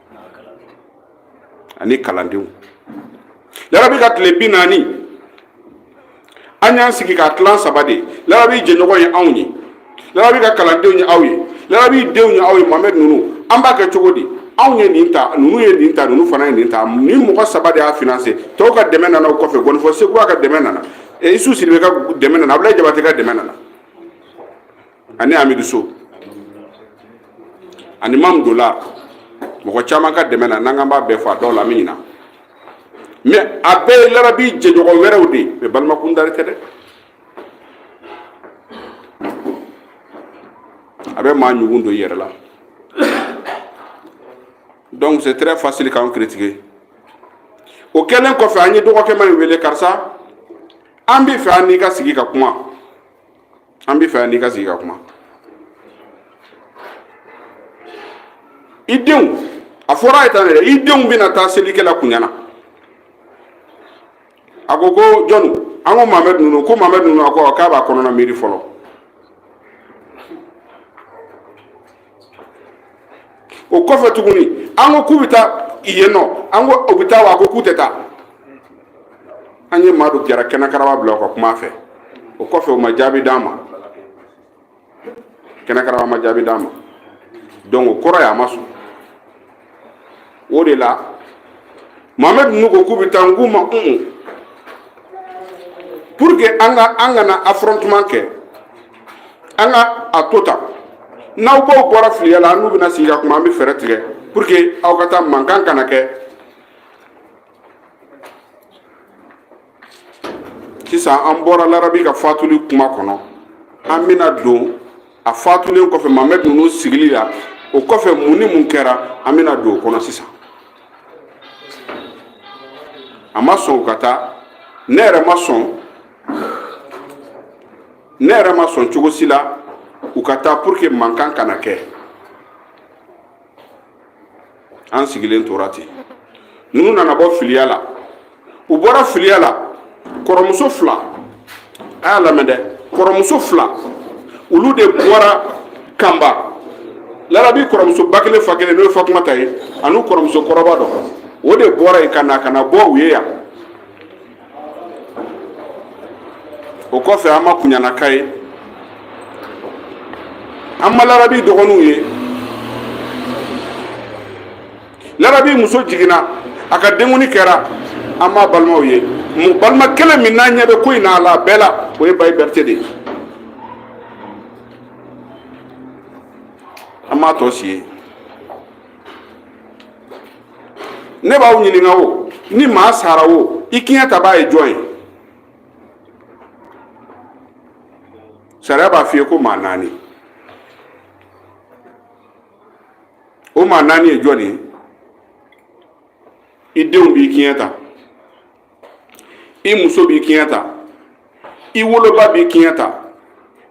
ani kalandenw larabi ka tile bi naani an y'an sigi k'a tilan saba de larabi jɛɲɔgɔn ye anw ye larabi ka kalandenw ye aw ye larabi denw ye aw ye mohamɛd ninnu an b'a kɛ cogo di anw ye nin ta ninnu ye nin ta ninnu fana ye nin ta nin mɔgɔ saba de y'a finanse tɔw ka dɛmɛ nana o kɔfɛ ngɔnifɔ sekuba ka dɛmɛ nana isu sidibe ka dɛmɛ nana abulayi jabate ka dɛmɛ nana ani amidu so ani mamu dola mɔgɔ caman ka dɛmɛ na n'an k'an b'a bɛɛ fɔ a dɔw la an bɛ ɲina mais a bɛɛ ye larabi jɛɲɔgɔn wɛrɛw de ye mais balimakun dari tɛ dɛ a bɛ maa ɲugun don i yɛrɛ la donc c'est très facile k'an critiquer o kɛlen kɔfɛ an ye dɔgɔkɛma in wele karisa an bɛ fɛ an n'i ka sigi ka kuma an bɛ fɛ an n'i ka sigi ka kuma i denw a fɔra a ye tan yɛrɛ i denw bɛna taa selikɛla kuɲana a ko ko jɔn an ko mohamɛd ninnu ko mohamɛd ninnu a ko k'a b'a kɔnɔna miiri fɔlɔ o kɔfɛ tuguni an ko k'u bɛ taa yen nɔ an ko u bɛ taa wa a ko k'u tɛ taa an ye maa dɔ jara kɛnɛ karaba bila o ka kuma a fɛ o kɔfɛ o ma jaabi d'an ma kɛnɛ karaba ma jaabi d'an ma donc o kɔrɔ ye a ma sɔn o de la mohamɛd ninnu ko k'u bɛ taa n k'u ma un pour que an ka an kana affrontement kɛ an ka a to tan n'aw baw bɔra filiya la an n'u bɛna sigi ka kuma an bɛ fɛɛrɛ tigɛ pour que aw ka taa mankan kana kɛ sisan an bɔra larabi ka fatuli kuma kɔnɔ an bɛna don a fatulen kɔfɛ mamɛd ninnu sigili la o kɔfɛ mun ni mun kɛra an bɛna don o kɔnɔ sisan a ma sɔn u ka taa ne yɛrɛ ne yɛrɛ ma sɔn cogo si la u ka taa pour que mankan kana kɛ an sigilen tora ten ninnu nana bɔ filiya la u bɔra filiya la kɔrɔmuso fila a y'a lamɛn dɛ kɔrɔmuso fila olu de bɔra kanba larabi kɔrɔmuso ba kelen fa kelen n'o ye fatumata ye ani kɔrɔmuso kɔrɔba dɔ o de bɔra yen ka na ka na bɔ u ye yan o kɔfɛ an ma kunyana ka ye an ma larabi dɔgɔninw ye larabi muso jiginna a ka denkundi kɛra an ma balimaw ye mu balima kelen min n'an ɲɛ bɛ ko in na a la a bɛɛ la o ye bayi berete de ye an m'a tɔ si ye ne b'aw ɲininka o ni maa sara o i kiɲɛtabaa ye jɔn ye sariya b'a f'i ye ko maa naani o maa naani ye jɔn ye i denw b'i kiɲɛ ta i muso b'i kiɲɛ ta i woloba b'i kiɲɛ ta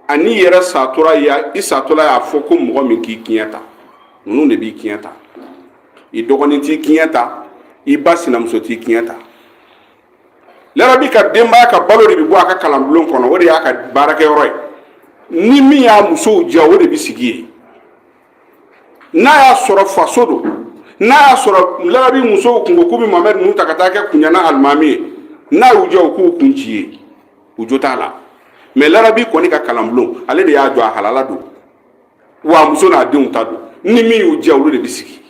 ani i yɛrɛ satɔla i satɔla y'a fɔ ko mɔgɔ min k'i kiɲɛ ta ninnu de b'i kiɲɛ ta i dɔgɔnin t'i kiɲɛ ta i ba sinamuso t'i kiɲɛ ta larabi ka denbaya ka balo de bɛ bɔ a ka kalanbulon kɔnɔ o de y'a ka baarakɛyɔrɔ ye ni min y'a musow diya o de bɛ sigi yen n'a y'a sɔrɔ faso don n'a y'a sɔrɔ larabi musow kun ko k'u bɛ mamɛd ninnu ta ka taa kɛ kunyana alimami ye n'a y'u diya u k'u kun ci ye u jo t'a la mais larabi kɔni ka kalanbulon ale de y'a jɔ a halala don wa muso n'a denw ta don ni min y'u diya olu de bɛ sigi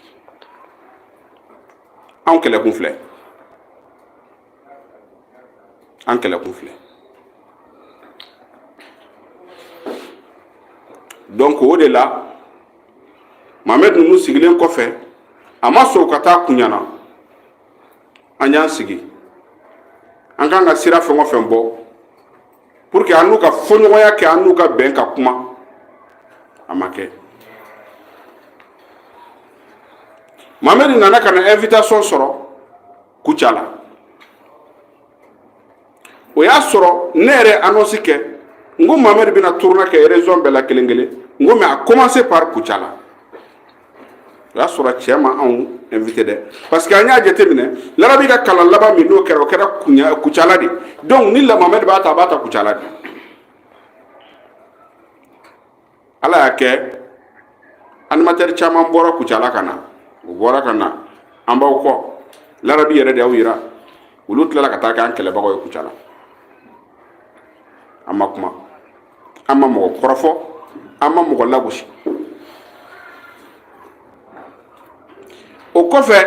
anw kɛlɛkun filɛ an kɛlɛkun filɛ donc o de la mamɛd ninnu sigilen kɔfɛ a ma sɔn ka taa kunyana an y'an sigi an kan ka sira fɛn o fɛn bɔ pour que an n'u ka fɔɲɔgɔnya kɛ an n'u ka bɛn ka kuma a ma kɛ mamɛd nana ka na invitation sɔrɔ Kucala o y'a sɔrɔ ne yɛrɛ annonce kɛ n ko Mamɛdi bɛna tournée kɛ région bɛɛ la kelen kelen n ko mais a commencer par Kucala o y'a sɔrɔ cɛ ma anw invité dɛ parce que an y'a jateminɛ larabi ka kalan laban min n'o kɛra o kɛra Kucala de donc ni Mamɛdi b'a ta a b'a ta Kucala de ala y'a kɛ animateur caman bɔra kucala ka na u bɔra ka na an b'aw kɔ larabi yɛrɛ de y'aw yira olu tilala ka taa kɛ an kɛlɛbagaw ye kucala an ma kuma an ma mɔgɔ kɔrɔfɔ an ma mɔgɔ lagosi o kɔfɛ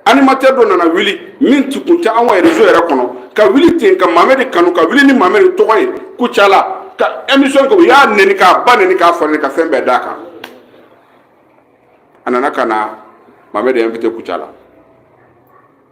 animateur dɔ nana wuli min tun tɛ an ka réseau yɛrɛ kɔnɔ ka wuli ten ka mamɛdi kanu ka wuli ni mamɛdi tɔgɔ ye kucala ka émission kɛ u y'a neni k'a ba neni k'a fa neni ka fɛn bɛɛ d'a kan a nana ka na mamɛdi invité kucala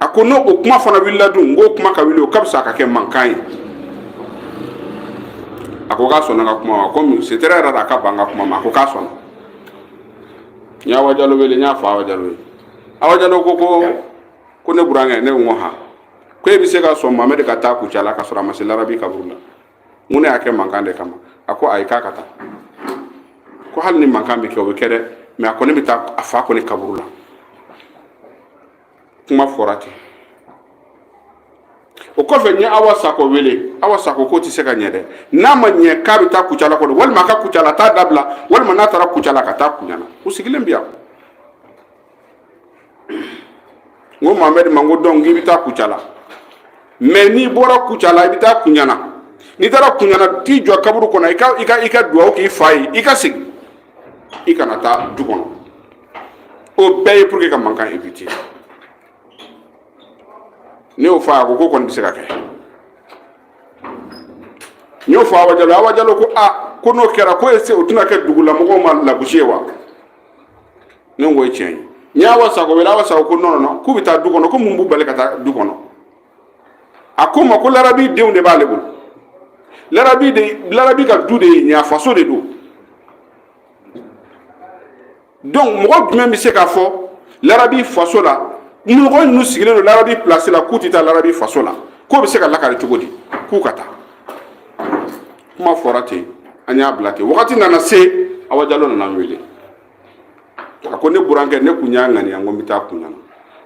a ko n'o o kuma fana wulila dun n ko kuma ka wuli o ka fisa a ka kɛ mankan ye a ko k'a sɔnna n ka kuma ma comme c'est très rare a ka ban n ka kuma ma a ko k'a sɔnna n ye awa jalo wele n y'a fɔ awa jalo ye awa jalo ko ko ko ne burankɛ ne ko n ko han ko e bɛ se ka sɔn mamɛdi ka taa kucala ka sɔrɔ a ma se larabi kaburu la n ko ne y'a kɛ mankan de kama a ko ayi k'a ka taa ko hali ni mankan bɛ kɛ o bɛ kɛ dɛ mais a kɔni bɛ taa a fa kɔni kaburu la kuma fɔra ten o kɔfɛ n ye awa sako wele awa sako k'o tɛ se ka ɲɛ dɛ n'a ma ɲɛ k'a bɛ taa kucala kɔnɔ walima a ka kucala taa dabila walima n'a taara kucala ka taa kuɲana u sigilen bɛ yan n ko mamɛdi ma n ko donc i bɛ taa kucala mais n'i bɔra kucala i bɛ taa kuɲana n'i taara kuɲana t'i jɔ kaburu kɔnɔ i ka i ka i ka duwawu k'i fa ye i ka segin i kana taa du kɔnɔ o bɛɛ ye pour que ka mankan éviter ne y'o fɔ a ko k'o kɔni bɛ se ka kɛ n y'o fɔ awa jalo awa jalo ko a ko n'o kɛra ko est-ce o tɛna kɛ dugulamɔgɔw ma lagosi ye wa ne ko o ye tiɲɛ ye n ye awa sako wele awa sako ko non non non k'u bɛ taa du kɔnɔ ko mun b'u bali ka taa du kɔnɔ a ko ma ko larabi denw de b'ale bolo larabi de larabi ka du de ye nin a faso de don donc mɔgɔ jumɛn bɛ se k'a fɔ larabi faso la mɔgɔ ninnu sigilen don larabi pilasi la k'u tɛ taa larabi faso la k'o bɛ se ka lakari cogo di k'u ka taa kuma fɔra ten an y'a bila ten wagati nana se awa jalo nana n wele a ko ne burankɛ ne kun y'a ŋaniya ko n bɛ taa kunyana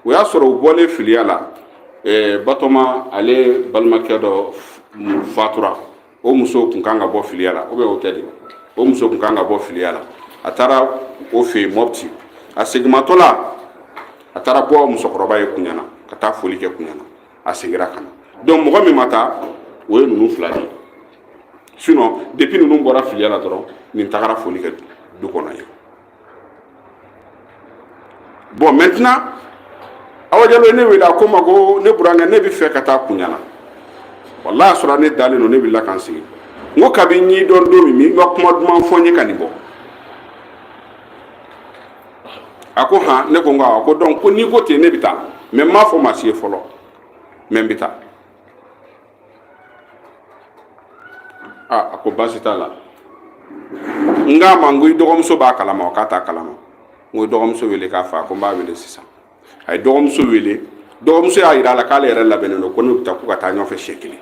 o y'a sɔrɔ u bɔlen filiya la eh, batɔma ale balimakɛ dɔ fatura o muso kun kan ka bɔ filiya la ou bien o tɛ de o muso kun kan ka bɔ filiya la a taara o fɛ yen mɔpti a seginmatɔ la a taara bɔ musokɔrɔba ye kunyana ka taa foli kɛ kunyana a seginna ka na donc mɔgɔ min ma taa o ye ninnu fila de ye sinon depuis ninnu bɔra filiya la dɔrɔn nin tagara foli kɛ du kɔnɔ yen bon maintenant awa jalo ye ne wele a ko n ma ko ne burankɛ ne bɛ fɛ ka taa kunyana wallahi a sɔrɔ ne dalen don ne wulila ka n sigi n ko kabi n y'i dɔn don min i ma kuma duman fɔ n ye ka nin bɔ a ko han ne ko n ko awɔ ko donc ko n'i ko ten ne bɛ taa mais n m'a fɔ maa si ye fɔlɔ mais n bɛ taa aa a ko baasi t'a la n k'a ma n ko i dɔgɔmuso b'a kalama wa k'a t'a kalama n ko i dɔgɔmuso wele k'a fɔ a ko n b'a wele sisan a ye dɔgɔmuso wele dɔgɔmuso y'a yira a la k'ale yɛrɛ labɛnnen don ko ne bɛ taa k'u ka taa ɲɔgɔn fɛ siɲɛ kelen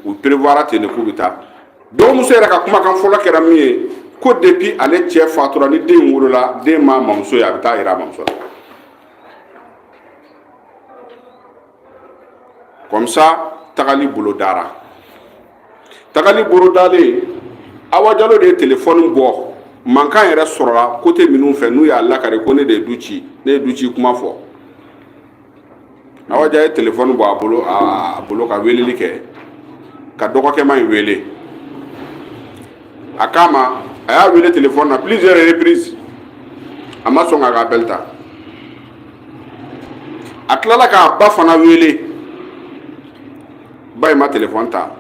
u prévoira ten de k'u bɛ taa dɔgɔmuso yɛrɛ ka kumakan fɔlɔ kɛra min ye ko depuis ale cɛ fatura ni den wolola den ma mamuso ye a bɛ t'a yira a mamuso la comme ça tagali bolo dara tagali bolo dalen awa jalo de ye telefɔni bɔ mankan yɛrɛ sɔrɔla côté minnu fɛ n'u y'a lakari ko ne de ye du ci ne ye du ci kuma fɔ awa jalo ye telefɔni bɔ a bolo ka weleli kɛ ka dɔgɔkɛma in wele a k'a ma a y'a wele telefɔni na plusieurs reprises a ma sɔn k'a ka appel ta a tilala k'a ba fana wele ba in ma telefɔni ta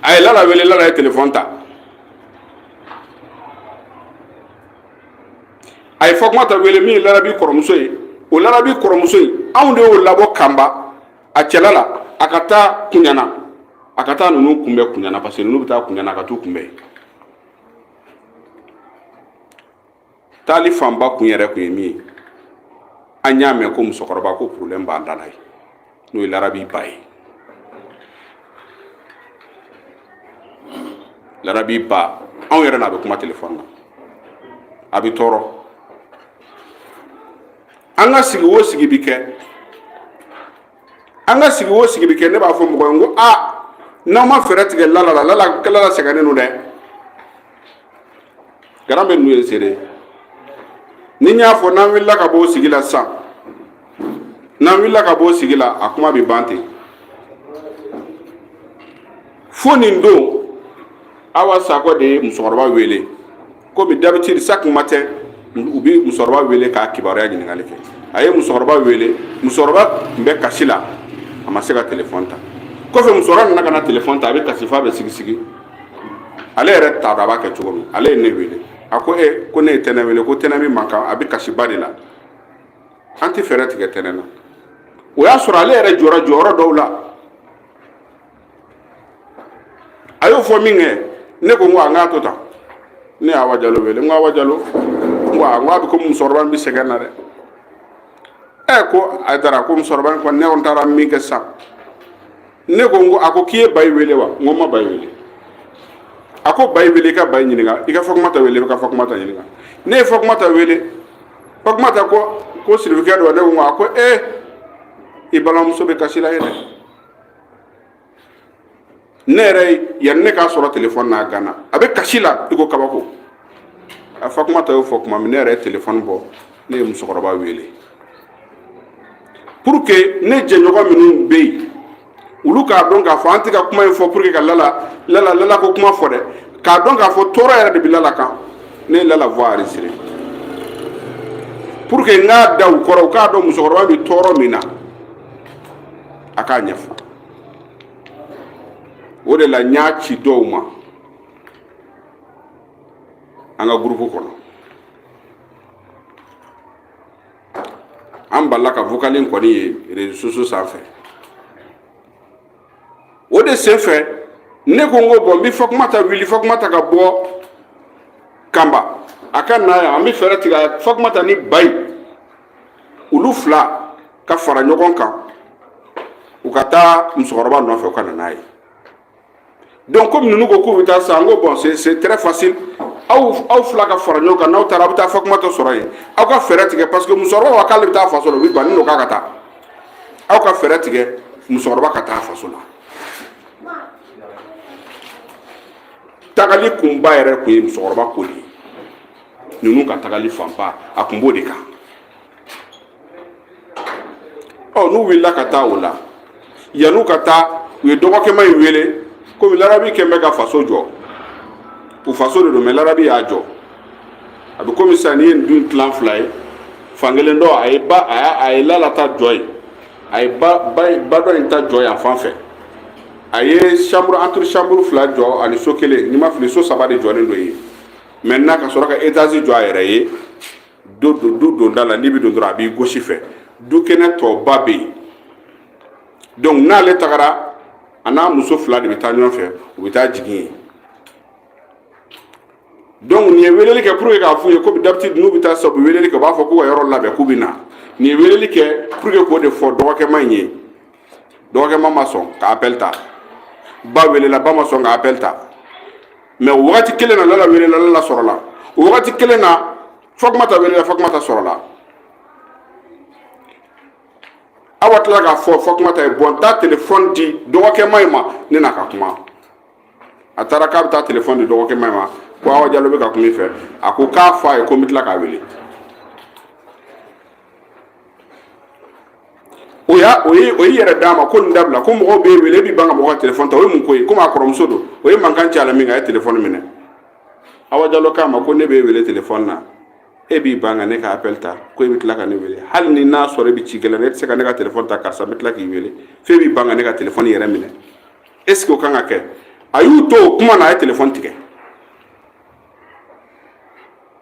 a ye lala wele lala ye telefɔni ta a ye fatumata wele min ye larabi kɔrɔmuso ye o larabi kɔrɔmuso in anw de y'o labɔ kanba a cɛla la a ka taa kunyana a ka taa ninnu kunbɛn kunyana parce que ninnu bɛ taa kunyana a ka t'u kunbɛn taali fanba kun yɛrɛ kun ye min ye an y'a mɛn ko musokɔrɔba ko problème b'an da la ye n'o ye larabi ba ye larabi ba anw yɛrɛ n'a bɛ kuma telefɔni na a bɛ tɔɔrɔ an ka sigi o sigi bɛ kɛ an ka sigi o sigi bɛ kɛ ne b'a fɔ mɔgɔ ye n ko aa n'aw ma fɛɛrɛ tigɛ lala la lala sɛgɛnnen don dɛ garan bɛ ninnu ye seere ye ni n y'a fɔ n'an wulila ka bɔ o sigi la sisan n'an wulila ka bɔ o sigi la a kuma bɛ ban ten fo nin don awa sakɔ de ye musokɔrɔba wele komi d'habitude chaque matin u bɛ musokɔrɔba wele k'a kibaruya ɲininkali kɛ a ye musokɔrɔba wele musokɔrɔba tun bɛ kasi la a ma se ka telefɔni ta kɔfɛ musokɔrɔba nana ka na telefɔni ta a bɛ kasi f'a bɛ sigisigi ale yɛrɛ t'a dɔn a b'a kɛ cogo min ale ye ne wele a ko e ko ne ye tɛnɛ wele ko tɛnɛ min man kan a bɛ kasiba de la an tɛ fɛɛrɛ tigɛ tɛnɛ na o y'a sɔrɔ ale yɛrɛ jɔra jɔyɔrɔ dɔw la a y'o fɔ min kɛ ne ko n ko a n k'a to tan ne ye awa jalo wele n ko awa jalo n ko a n ko a bɛ ko musokɔrɔba in bɛ sɛgɛn na dɛ ɛ ko ayidara ko musokɔrɔba in kɔni ne kɔni taara min kɛ sisan ne ko n ko a ko k'i ye bayi wele wa n ko n ma bayi wele a ko bayi wele i ka bayi ɲininka i ka fatumata wele i ka fatumata ɲininka ne ye fatumata wele fatumata ko ko sirifukɛ don ne ko a ko ee eh, i balimamuso bɛ kasi la yen dɛ ne yɛrɛ yanni ne k'a sɔrɔ telefɔni na a ganna a bɛ kasi la i ko kabako a fatumata y'o fɔ tuma min ne yɛrɛ ye telefɔni bɔ ne ye musokɔrɔba wele pour que ne jɛɲɔgɔn minnu bɛ yen olu k'a dɔn k'a fɔ an tɛ ka kuma in fɔ pour que ka la lala ko kuma fɔ dɛ k'a dɔn k'a fɔ tɔɔrɔ yɛrɛ de bɛ lala kan ne ye lala voix enregistrée pour que n k'a da u kɔrɔ u k'a dɔn musokɔrɔba bɛ tɔɔrɔ min na a k'a ɲɛfɔ o de la n y'a ci dɔw ma an ka gurupu kɔnɔ an bɛ lala ka vocal in kɔni ye réseaux sociaux sanfɛ o de senfɛ ne ko n ko bɔn n bɛ fatumata wuli fatumata ka bɔ kanba a ka na yan an bɛ fɛɛrɛ tigɛ fatumata ni bayi olu fila ka fara ɲɔgɔn kan u ka taa musokɔrɔba nɔfɛ u ka na n'a ye donc komi ninnu ko k'u bɛ taa sa n ko bɔn c'est c'est très facile aw aw fila ka fara ɲɔgɔn kan n'aw taara aw bɛ taa fatumata sɔrɔ yen aw ka fɛɛrɛ tigɛ parce que musokɔrɔba ko k'ale bɛ taa faso la o bɛ ban ni n'o k'a ka taa aw ka fɛɛrɛ tigɛ musokɔrɔba ka taa faso la tagali kunba yɛrɛ kun ye musokɔrɔba ko de ye ninnu ka tagali fanba a kun b'o de kan ɔ n'u wulila ka taa o la yan'u ka taa u ye dɔgɔkɛma in wele komi larabi kɛlen bɛ ka faso jɔ u faso de don mɛ larabi y'a jɔ a bɛ komi sisan n'i ye nin du in tila fila ye fankelen dɔ a ye ba a y'a a ye lala ta jɔ yen a ye ba ba ba dɔ in ta jɔ yan fan fɛ a ye chambre antichambre fila jɔ ani so kelen ni n ma fili so saba de jɔlen don yen maintenant ka sɔrɔ ka etazi jɔ a yɛrɛ ye do don du donda la n'i bɛ don dɔrɔn a b'i gauche fɛ du kɛnɛ tɔba bɛ yen donc n'ale tagara a n'a muso fila de bɛ taa ɲɔgɔn fɛ u bɛ taa jigin yen donc nin ye weleli kɛ pour que k'a f'u ye komi d'habitude n'u bɛ taa sa u bɛ weleli kɛ u b'a fɔ k'u ka yɔrɔ labɛn k'u bɛ na nin ye weleli kɛ pour que k'o de fɔ dɔgɔkɛma in ye dɔgɔkɛma ma sɔn ka appel ta ba welela ba ma sɔn ka appel ta mɛ o wagati kelen na lala welela lala sɔrɔla o wagati kelen na fatumata welela fatumata sɔrɔla awa tila k'a fɔ fatumata ye bɔn taa telefɔni di dɔgɔkɛma in ma ne n'a ka kuma a taara k'a bɛ taa telefɔni di dɔgɔkɛma in ma ko awa jalo bɛ ka kuma i fɛ a ko k'a fɔ a ye ko n bɛ tila k'a wele o y'a o ye o y'i yɛrɛ d'a ma ko nin dabila ko mɔgɔw b'e wele e b'i ban ka mɔgɔ ka telefɔni ta o ye mun ko ye komi a kɔrɔmuso don o ye mankan ci a la min kɛ a ye telefɔni minɛ awa jalo k'a ma ko ne b'e wele telefɔni na e b'i ban ka ne ka appel ta ko e bɛ tila ka ne wele hali ni n'a sɔrɔ e bɛ ci gɛlɛn na e tɛ se ka ne ka telefɔni ta karisa n bɛ tila k'i wele f'e b'i ban ka ne ka telefɔni yɛrɛ minɛ est ce que o kan ka kɛ a y'u to o kuma na a ye telefɔni tigɛ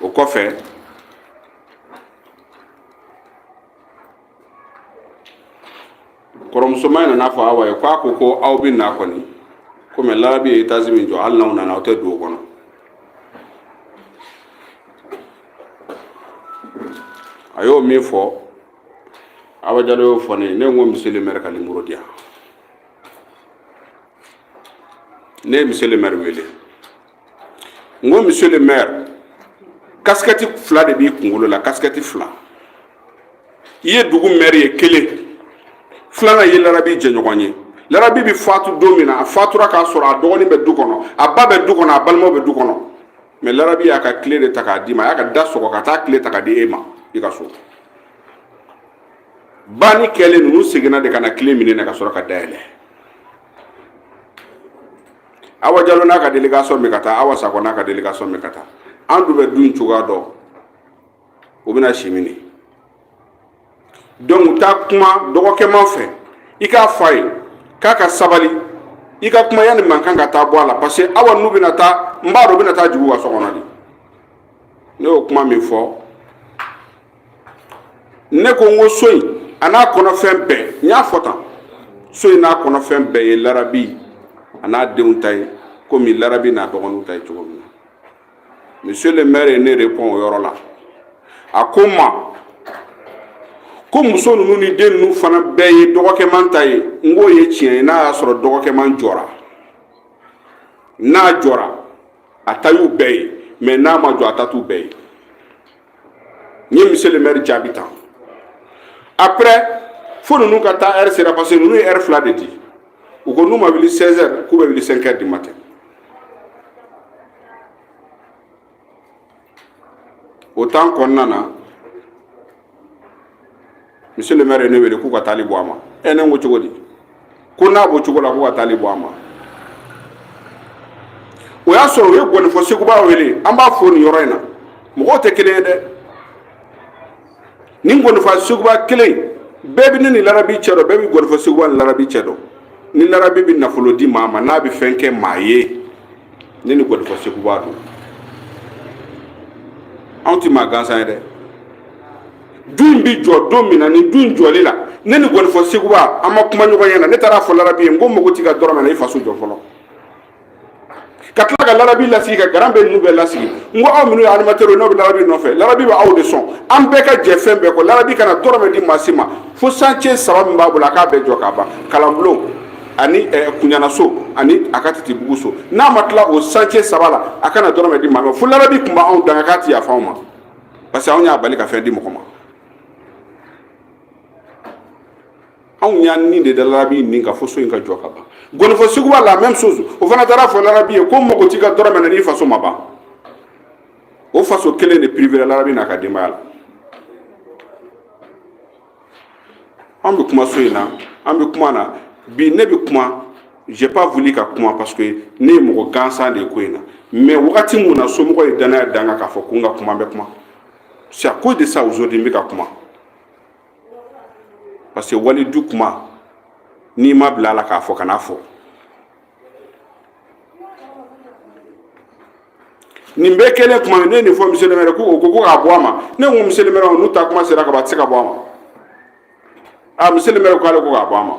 o kɔfɛ kɔrɔmusoma in nan'a fɔ awa ye ko a ko ko aw bɛ na kɔni komi larabi ye etazi min jɔ hali n'aw nana aw tɛ don o kɔnɔ a y'o min fɔ awa jalo y'o fɔ ne ye ne ko monsieur le maire ka nimoro di yan ne ye monsieur le maire wele n ko monsieur le maire kasikɛti fila de b'i kunkolo la kasikɛti fila i ye dugu maire ye kelen filanan i ye larabi jɛɲɔgɔn ye larabi bɛ fatu don min na a fatura k'a sɔrɔ a dɔgɔnin bɛ du kɔnɔ a ba bɛ du kɔnɔ a balimaw bɛ du kɔnɔ mɛ larabi y'a ka kile de ta k'a d'i ma a y'a ka da sɔgɔ ka taa kile ta k'a di e ma i ka so banni kɛlen ninnu seginna de ka na clé minɛ ka sɔrɔ ka da yɛlɛ awa jalo n'a ka délégation bɛ ka taa awa sakɔ n'a ka délégation bɛ ka taa an dun bɛ dun cogoya dɔn u bɛna si minɛ donc taa kuma dɔgɔkɛman fɛ i k'a fɔ a ye k'a ka sabali i ka kuma yanni mankan ka taa bɔ a la parce que awa n'u bɛna taa n b'a dɔn u bɛna taa jugu ka so kɔnɔ de ne y'o kuma min fɔ ne ko n ko so in a n'a kɔnɔfɛn bɛɛ n y'a fɔ tan so in n'a kɔnɔfɛn bɛɛ ye larabi a n'a denw ta ye komi larabi n'a dɔgɔninw ta ye cogo min na monsieur le maire ye ne répond o yɔrɔ la a ko n ma ko muso ninnu ni den ninnu fana bɛɛ ye dɔgɔkɛman ta ye n k'o ye tiɲɛ ye n'a y'a sɔrɔ dɔgɔkɛman jɔra n'a jɔra a ta y'u bɛɛ ye mais n'a ma jɔ a ta t'u bɛɛ ye n ye monsieur le maire jaabi tan après fo ninnu ka taa heure sera parce que ninnu ye heure fila de di u ko n'u ma wuli 16 heures k'u bɛ wuli 5 heures du matin o temps kɔnɔna na monsieur le maire ye ne wele k'u ka taali bɔ a ma ɛ ne ko cogo di ko n'a b'o cogo la k'u ka taali bɔ a ma o y'a sɔrɔ u ye gɔnifɔ seguba wele an b'a fɔ nin yɔrɔ in na mɔgɔw tɛ kelen ye dɛ nin gɔnifɔ seguba kelen bɛɛ bɛ ne ni larabi cɛ dɔn bɛɛ bɛ gɔnifɔ seguba ni larabi cɛ dɔn ni larabi bɛ nafolo di maa ma n'a bɛ fɛn kɛ maa ye ne ni gɔnifɔ seguba don anw tɛ maa gansan ye dɛ du in bɛ jɔ don min na ni du in jɔli la ne ni gɔnifɔ seguba an ma kuma ɲɔgɔn ɲɛ na ne taara fɔ larabi ye n ko mago t'i ka dɔrɔmɛ na i faso jɔ fɔlɔ ka tila ka larabi lasigi ka garan bɛɛ ninnu bɛɛ lasigi n ko aw minnu ye animatɛriw ye n'aw bɛ larabi nɔfɛ larabi bɛ aw de sɔn an bɛɛ ka jɛ fɛn bɛɛ kɔ larabi kana dɔrɔmɛ di maa si ma fo chantier saba min b'a bolo a k'a bɛɛ jɔ k'a ban kalanbulon ani eh, kunyanaso ani a ka titibugu so n'a ma tila o chantier saba la a kana dɔrɔmɛ di maa ma fo larabi tun b'anw danga k'a ti yafa anw ma parce que anw y'a bali ka fɛn di mɔgɔ ma anw y'an ni de da larabi ni kan fo so in ka jɔ ka ban gɔnifɔ seguba la même chose o fana taara fɔ larabi ye ko mago t'i ka dɔrɔmɛ na n'i faso ma ban o faso kelen de privera larabi n'a ka denbaya la an bɛ kuma so in na an bɛ kuma na bi ne bɛ kuma j'ai pas voulu ka kuma parce que ne ye mɔgɔ gansan de ye ko in na mais wagati mun na somɔgɔ ye danaya da n kan k'a fɔ ko n ka kuma n bɛ kuma c'est à cause de ça aujourd'hui n bɛ ka kuma parce que wali du kuma n'i ma bila a la k'a fɔ kan'a fɔ nin bɛɛ kɛlen kuma min ne ye nin fɔ monsieur le maire ko o ko k'a bɔ a ma ne ko monsieur le maire n'u taa kuma sera ka ban a tɛ se ka bɔ a ma a monsieur le maire ko ale ko k'a bɔ a ma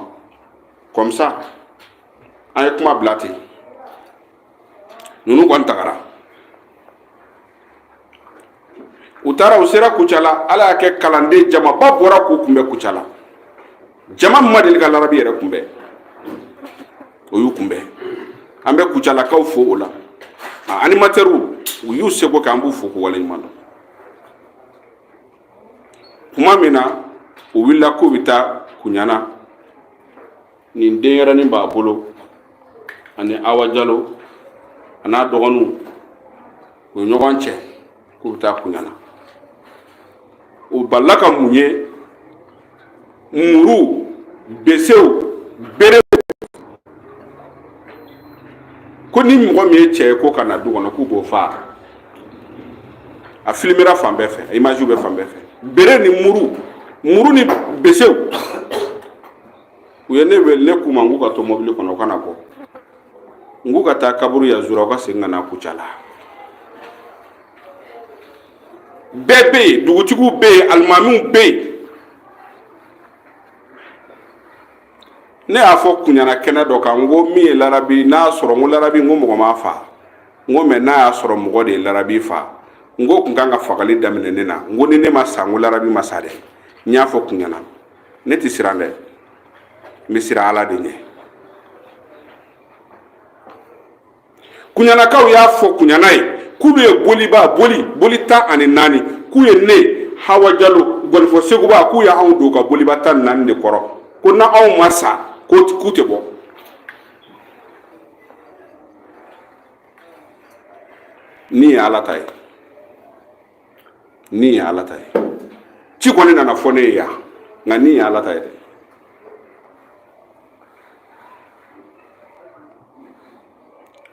comme ça an ye kuma bila ten ninnu kɔni tagara u taara u sera kucala ala y'a kɛ kalanden jamaba bɔra k'u kunbɛ kucala jama min ma deli ka larabi yɛrɛ kunbɛ o y'u kunbɛ an bɛ kucalakaw fo o la a animatɛriw u y'u seko kɛ an b'u fo k'u waleɲuman dɔn kuma min na u wulila k'u bɛ taa kuɲana nin denyɛrɛnin b'a bolo ani awa jalo a n'a dɔgɔninw u ye ɲɔgɔn cɛ k'u bɛ taa kuɲana u balila ka mun ye muru besew berew ko ni mɔgɔ min ye cɛ ye ko ka na du kɔnɔ k'u b'o faa a filimera fan bɛɛ fɛ a imaziw bɛ fan bɛɛ fɛ bere ni muru muru ni besew u ye ne wele ne k'u ma n k'u ka to mɔbili kɔnɔ u kana bɔ n k'u ka taa kaburu ya zura u ka segin ka na kucala bɛɛ bɛ yen dugutigiw bɛ yen alimamiw bɛ yen ne y'a fɔ kuɲana kɛnɛ dɔ kan n ko min ye larabi n'a sɔrɔ n ko larabi n ko mɔgɔ m'a faa n ko mais n'a y'a sɔrɔ mɔgɔ de ye larabi faa n k'u kun kan ka fagali daminɛ ne na n ko ni ne ma sa n ko larabi ma sa dɛ n y'a fɔ kuɲana ne tɛ siran dɛ n bɛ siran ala de ɲɛ kuɲanakaw y'a fɔ kuɲana yen k'ulu ye boliba boli boli tan ani naani k'u ye ne hawa jalo gɔnifɔ seguba k'u ye anw don ka boliba tan ni naani de kɔrɔ ko na anw ma sa k'u tɛ bɔ ni ye ala ta ye ni ye ala ta ye ci kɔni nana fɔ ne ye yan nka ni ye ala ta ye dɛ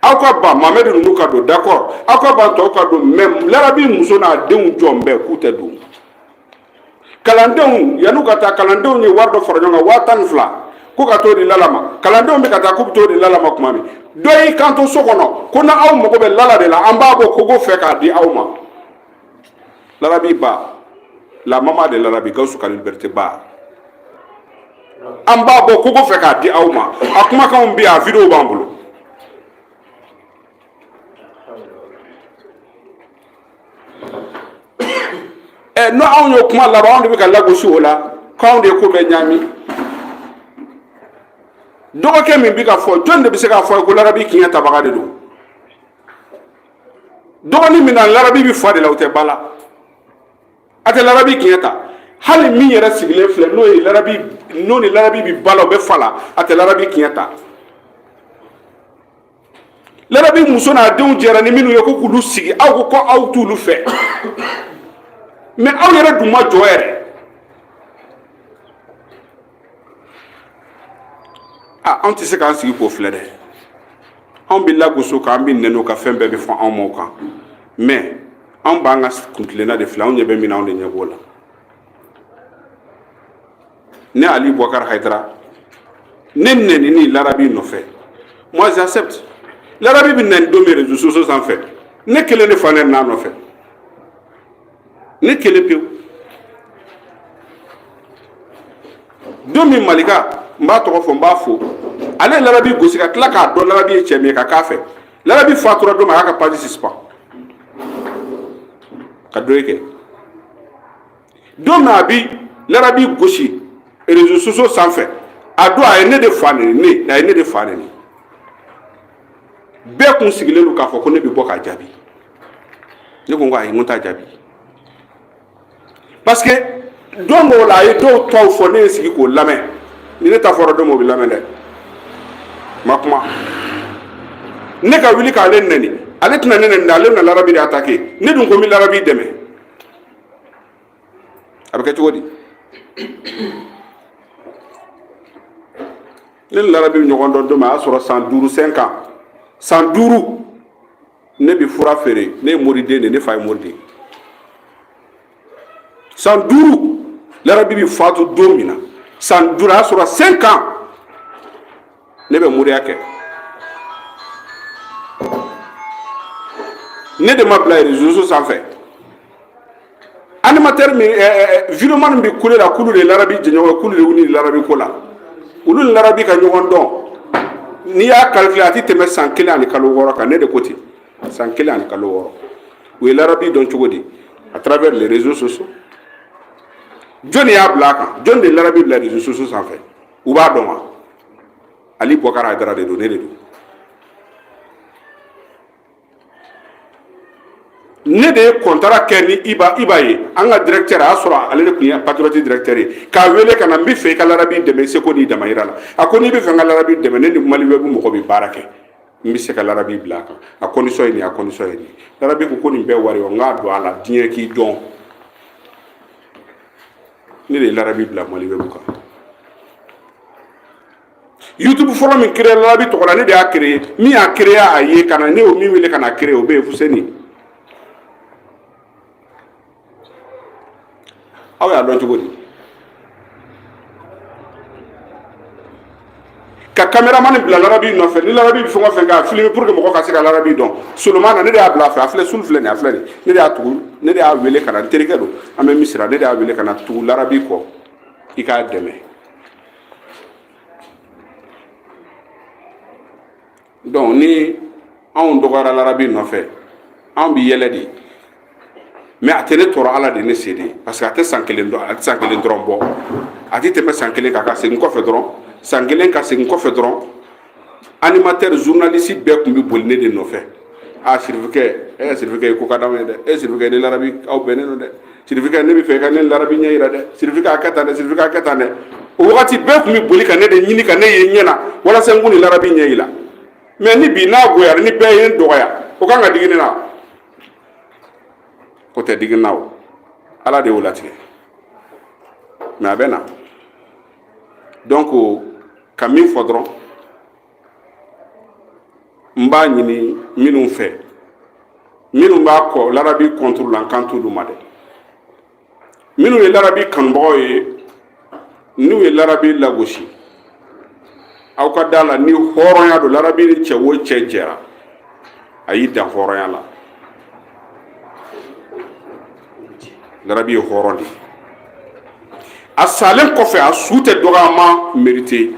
aw ka ban mamɛdi ninnu ka don d'accord aw ka ban tɔw ka don mais larabi muso n'a denw jɔn bɛɛ k'u tɛ don kalandenw yan'u ka taa kalandenw ye wari dɔ fara ɲɔgɔn kan waa tan ni fila ko ka t'o di lala ma kalandenw bɛ ka taa k'u bɛ t'o di lala ma tuma min dɔ y'i kanto so kɔnɔ ko na aw mago bɛ lala de la an b'a bɔ kogo fɛ k'a di aw ma larabi ba la maman de larabi gawusu ka liberite ba an b'a bɔ kogo fɛ k'a di aw ma a kumakanw bɛ yan a videow b'an bolo ɛ n'o anw y'o kuma laban anw de bɛ ka lagosi o la k'anw de ye ko bɛɛ ɲami dɔgɔkɛ min bɛ ka fɔ jɔn de bɛ se k'a fɔ ko larabi kiɲɛ tabaga de don dɔgɔnin min na larabi bɛ fa de la o tɛ ba la a tɛ larabi kiɲɛ ta hali min yɛrɛ sigilen filɛ n'o ni larabi bɛ ba la o bɛ fa la a tɛ larabi kiɲɛ ta larabi muso n'a denw jɛra ni minnu ye ko k'olu sigi aw ko ko aw t'olu fɛ mais aw yɛrɛ dun ma jɔ yɛrɛ a anw tɛ se k'an sigi k'o filɛ dɛ anw bɛ lagosi o kan an bɛ nɛni o kan fɛn bɛɛ bɛ fɔ anw ma o kan mais anw b'an ka kuntilenna de filɛ anw ɲɛ bɛ min na anw de ɲɛ b'o la ne ali boubacar haidara ne nɛnina larabi nɔfɛ moi j'accepte larabi bɛ nɛni don min réseaux sociaux sanfɛ ne kelen de fa nɛnin'a nɔfɛ ne kelen pewu don min malika n b'a tɔgɔ fɔ n b'a fo ale ye larabi gosi ka tila k'a dɔn larabi ye cɛ min ye ka k'a fɛ larabi fatura don min a y'a ka page suspendre ka deuil kɛ don min a bi larabi gosi réseaux sociaux sanfɛ a don a ye ne de fa nɛni ne a ye ne de fa nɛni bɛɛ kun sigilen don k'a fɔ ko ne bɛ bɔ k'a jaabi ne ko n ko ayi n ko n t'a jaabi parce que don dɔw la a ye dɔw ta fɔ ne ye sigi k'o lamɛn ni ne ta fɔra don min o bɛ lamɛn dɛ ma kuma ne ka wuli k'ale nɛni ale tɛna ne nɛni dɛ ale bɛna larabi de attaquer ne dun ko n bɛ larabi dɛmɛ a bɛ kɛ cogo di ne ni larabi bɛ ɲɔgɔn dɔn don min a y'a sɔrɔ san duuru cinq ans san duuru ne bɛ fura feere ne ye moriden de ye ne fa ye moriden ye san duuru larabi bɛ fatu don min na san duuru a y'a sɔrɔ cinq ans ne bɛ moriya kɛ ne de ma bila réseau sanfɛ animateur min vidéoman min bɛ kule la kulu de larabi jɛɲɔgɔn kulu de wuli larabi ko la olu ni larabi ka ɲɔgɔn dɔn n'i y'a calculer a tɛ tɛmɛ san kelen ani kalo wɔɔrɔ kan ne de ko ten san kelen ani kalo wɔɔrɔ u ye larabi dɔn cogo di à travers les réseaux sociaux jɔnni y'a bila a kan jɔnni de larabi bila réseaux sociaux sanfɛ u b'a dɔn wa ali boubacar haidara de don ne de don ne de ye contrat kɛ ni iba ye an ka directeur a y'a sɔrɔ ale de tun ye patriote directeur ye k'a wele ka na n bɛ fɛ i ka larabi dɛmɛ i seko n'i damayira la a ko n'i bɛ fɛ n ka larabi dɛmɛ ne ni mali web mɔgɔ bɛ baara kɛ n bɛ se ka larabi bila a kan a condition ye nin a condition ye nin larabi ko nin bɛɛ wari o n k'a don a la diɲɛ k'i dɔn ne de ye larabi bila mali web kan youtube fɔlɔ min créé larabi tɔgɔ la ne de y'a créé min y'a créé a ye ka na ne y'o min wele ka n'a créé o bɛ yen fuseni aw y'a dɔn cogo di ka caméraman bila larabi nɔfɛ ni larabi bɛ fɛn o fɛn kɛ a filmer pour que mɔgɔ ka se ka larabi dɔn solomana ne de y'a bila a fɛ a filɛ sulu filɛ nin a filɛ nin ne de y'a tugu ne de y'a wele ka na n terikɛ don an bɛ misira ne de y'a wele ka na tugu larabi kɔ i k'a dɛmɛ donc ni anw dɔgɔyara larabi nɔfɛ anw bi yɛlɛ de mais a tɛ ne tɔɔrɔ ala de ne se de parce que a tɛ san kelen dɔrɔn bɔ a tɛ tɛmɛ san kelen kan ka segin kɔfɛ dɔrɔn san kelen ka segin kɔfɛ dɔrɔn animateur journaliste bɛɛ tun bɛ boli ne de nɔfɛ a sirifukɛ e sirifukɛ i ko ka d'anw ye dɛ e sirifukɛ ni larabi aw bɛnnen don dɛ sirifukɛ ne bɛ fɛ i ka ne larabi ɲɛ yira dɛ sirifukɛ a kɛ tan dɛ sirifukɛ a kɛ tan dɛ o wagati bɛɛ tun bɛ boli ka ne de ɲini ka ne ye ɲɛ na walasa n k'u ni larabi ɲɛ yira mais ni bi n'a goyara ni bɛɛ ye n dɔgɔya o kan ka digi ne na o tɛ digi n na o ala de y'o latigɛ mais a bɛ na donc ka min fɔ dɔrɔn n b'a ɲini minnu fɛ minnu b'a kɔ larabi contre la n kan t'olu ma dɛ minnu ye larabi kanubagaw ye n'u ye larabi lagosi aw ka da la ni hɔrɔnya don larabi ni cɛ o cɛ jɛra a y'i dan hɔrɔnya la larabi ye hɔrɔn de ye a salen kɔfɛ a su tɛ dɔgɔyama mérité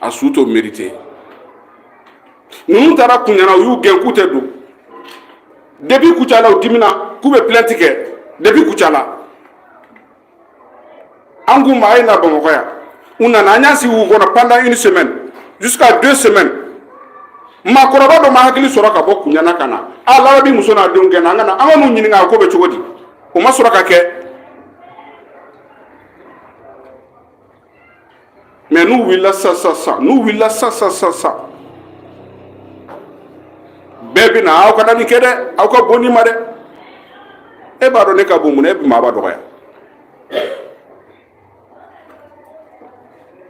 a su t'o mérité ninnu taara kuɲana u y'u gɛn k'u tɛ don depuis kucala u dimina k'u bɛ plainte kɛ depuis kucala an k'u ma a ye na bamakɔ yan u nana an y'an sigi u kɔnɔ pendant une semaine jusqu'à deux semaines maakɔrɔba dɔ ma hakili sɔrɔ ka bɔ kuɲana ka na a larabi muso n'a denw gɛnna an ka na an ka n'u ɲininka a ko bɛ cogo di o ma sɔrɔ ka kɛ mais n'u wulila sa sa sa n'u wulila sa sa sa sa bɛɛ bɛ na aw kana nin kɛ dɛ aw ka bon nin ma dɛ e b'a dɔn ne ka bon mun na e bɛ maaba dɔgɔya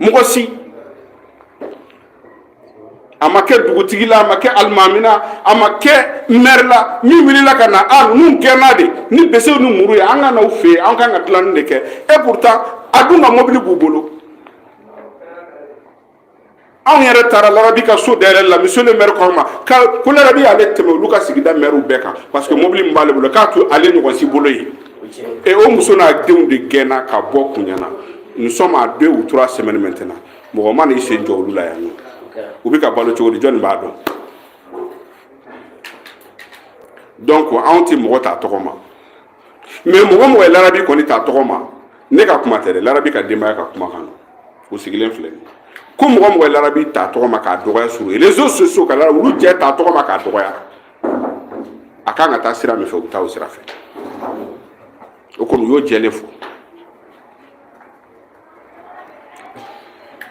mɔgɔ si a ma kɛ dugutigi la a ma kɛ alimami na a ma kɛ mɛri la min wulila ka na a ninnu gɛnna de ni besew ni muru ye an ka n'aw fɛ yen an kan ka dilanni de kɛ et pourtant a dun ka mɔbili b'u bolo anw yɛrɛ taara larabi ka so da yɛrɛ la monsieur le maire k'an ma ko larabi y'ale tɛmɛ olu ka sigida maire bɛɛ kan parce que mobili min b'ale bolo k'a t'ale ɲɔgɔn si bolo yen et o muso n'a denw de gɛnna ka bɔ kunyana nous sommes à deux ou trois semaines maintenant mɔgɔ ma n'i sen jɔ olu la yan nɔ u bɛ ka balo cogo di jɔni b'a dɔn donc anw tɛ mɔgɔ t'a tɔgɔ ma mais mɔgɔ mɔgɔ ye larabi kɔni ta tɔgɔ ma ne ka kuma tɛ dɛ larabi ka denbaya ka kumakan nɔ u sigilen filɛ ko mɔgɔ mɔgɔ ye larabi ta tɔgɔ ma k'a dɔgɔya sur les réseaux sociaux ka lara olu jɛ ta tɔgɔ ma k'a dɔgɔya a kan ka taa sira min fɛ u bɛ taa o sira fɛ o kɔni u y'o jɛlen fɔ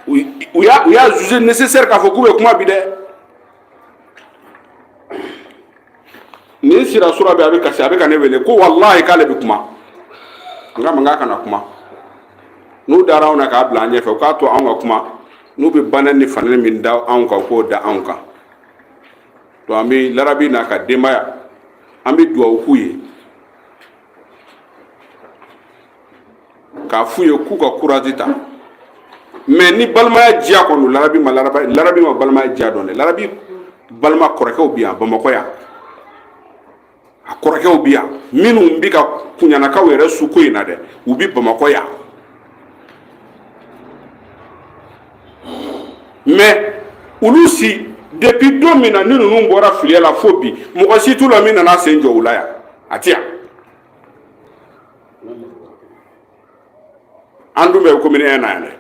u y'a u y'a jugé nécessaire k'a fɔ k'u bɛ kuma bi dɛ nin sira sura bɛɛ a bɛ kasi a bɛ ka ne wele ko walahi k'ale bɛ kuma n k'a ma n k'a kana kuma n'u dara anw na k'a bila an ɲɛfɛ u k'a to anw ka kuma n'u bɛ bana ni fanani min da anw kan k'o da anw kan donc an bɛ larabi n'a ka denbaya an bɛ dugawu k'u ye k'a f'u ye k'u ka courage ta mais ni balimaya diya kɔni don larabi ma laraba larabi ma balimaya diya dɔn dɛ larabi balima kɔrɔkɛw bɛ yan bamakɔ yan a kɔrɔkɛw bɛ yan minnu bɛ ka kunyanakaw yɛrɛ su ko in na dɛ u bɛ bamakɔ yan mais olu si depuis don min na ni ninnu bɔra filiya la fo bi mɔgɔ si t'u la min nana sen jɔ u la yan a tɛ yan an dun bɛ commune un na yan dɛ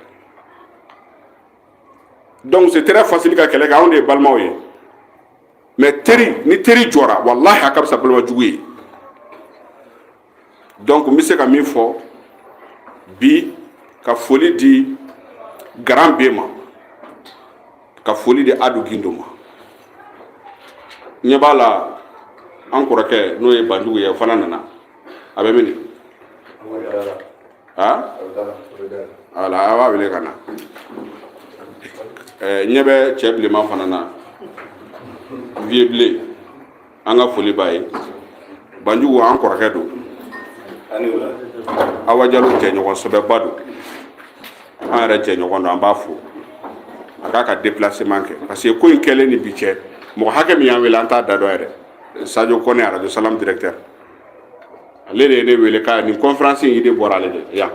donc c'est très facile ka kɛlɛ kɛ anw de ye balimaw ye mais teri ni teri jɔra walahi a ka fisa balima jugu ye donc n bɛ se ka min fɔ bi ka foli di garan bɛɛ ma ka foli di adu gindo ma ɲɛ b'a la an kɔrɔkɛ n'o ye banjugu ye o fana nana a bɛ mini voilà a b'a wele ka na ɲɛ bɛ cɛ bilenman fana na vieux bilen an ka foli b'a ye banjugu an kɔrɔkɛ don awa jalo jɛɲɔgɔn sɛbɛba don an yɛrɛ jɛɲɔgɔn don an b'a fo a k'a ka déplacement kɛ parce que ko in kɛlen ni bi cɛ mɔgɔ hakɛ min y'an wele an t'a da dɔn yɛrɛ sadio kɔnɛ arajo salam directeur ale de ye ne wele k'a nin conférence in idée bɔra ale de yan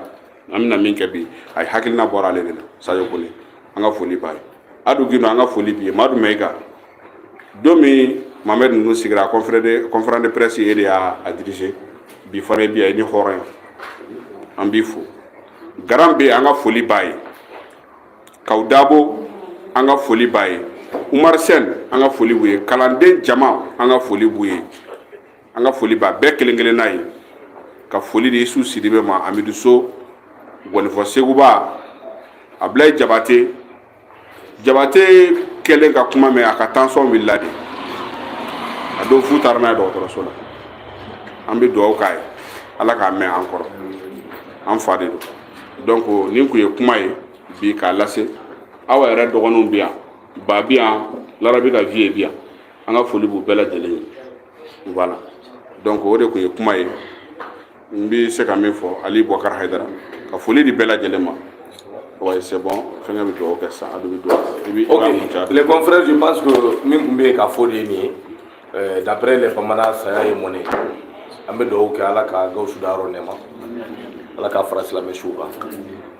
an bɛna min kɛ bi a ye hakilina bɔra ale de la sajo kone an ka foli b'a ye adu gindo an ka foli b'i ye madu mayiga don min mamɛd ninnu sigira conférence de presse e de y'a dirigé bi fana bi a ye ni hɔrɔn ye an b'i fo garan bɛ an ka foli b'a ye kaw dabo an ka foli b'a ye umar sen an ka foli b'u ye kalanden jama an ka foli b'u ye an ka foli b'a bɛɛ kelen kelenna ye ka foli di isu sidibe ma amidu so gɔnifɔ seguba abilaye jabate jabate kɛlen ka kuma mɛn a ka tansɔn wulila de a don f'u taara n'a ye dɔgɔtɔrɔso la an bɛ dugawu k'a ye ala k'a mɛn an kɔrɔ an fa de don donc nin kun ye kuma ye bi k'a lase aw yɛrɛ dɔgɔninw bi yan ba bi yan larabi ka vieux bi yan an ka foli b'u bɛɛ lajɛlen ye voilà donc o de kun ye kuma ye n bɛ se ka min fɔ ali boubacar haidara ka foli di bɛɛ lajɛlen ma Ouais, c'est bon. Fɛngɛ bɛ dugawu kɛ sisan, adu bɛ dugawu kɛ. I bɛ i b'a kuncɛ. Les confrères, je pense que min kun bɛ yen ka fɔ de ye nin ye. Euh, d'après les bamanan saya ye mɔnɛ an bɛ dugawu kɛ ala ka gawusu dayɔrɔ nɛɛma ala k'a fara silamɛ suw kan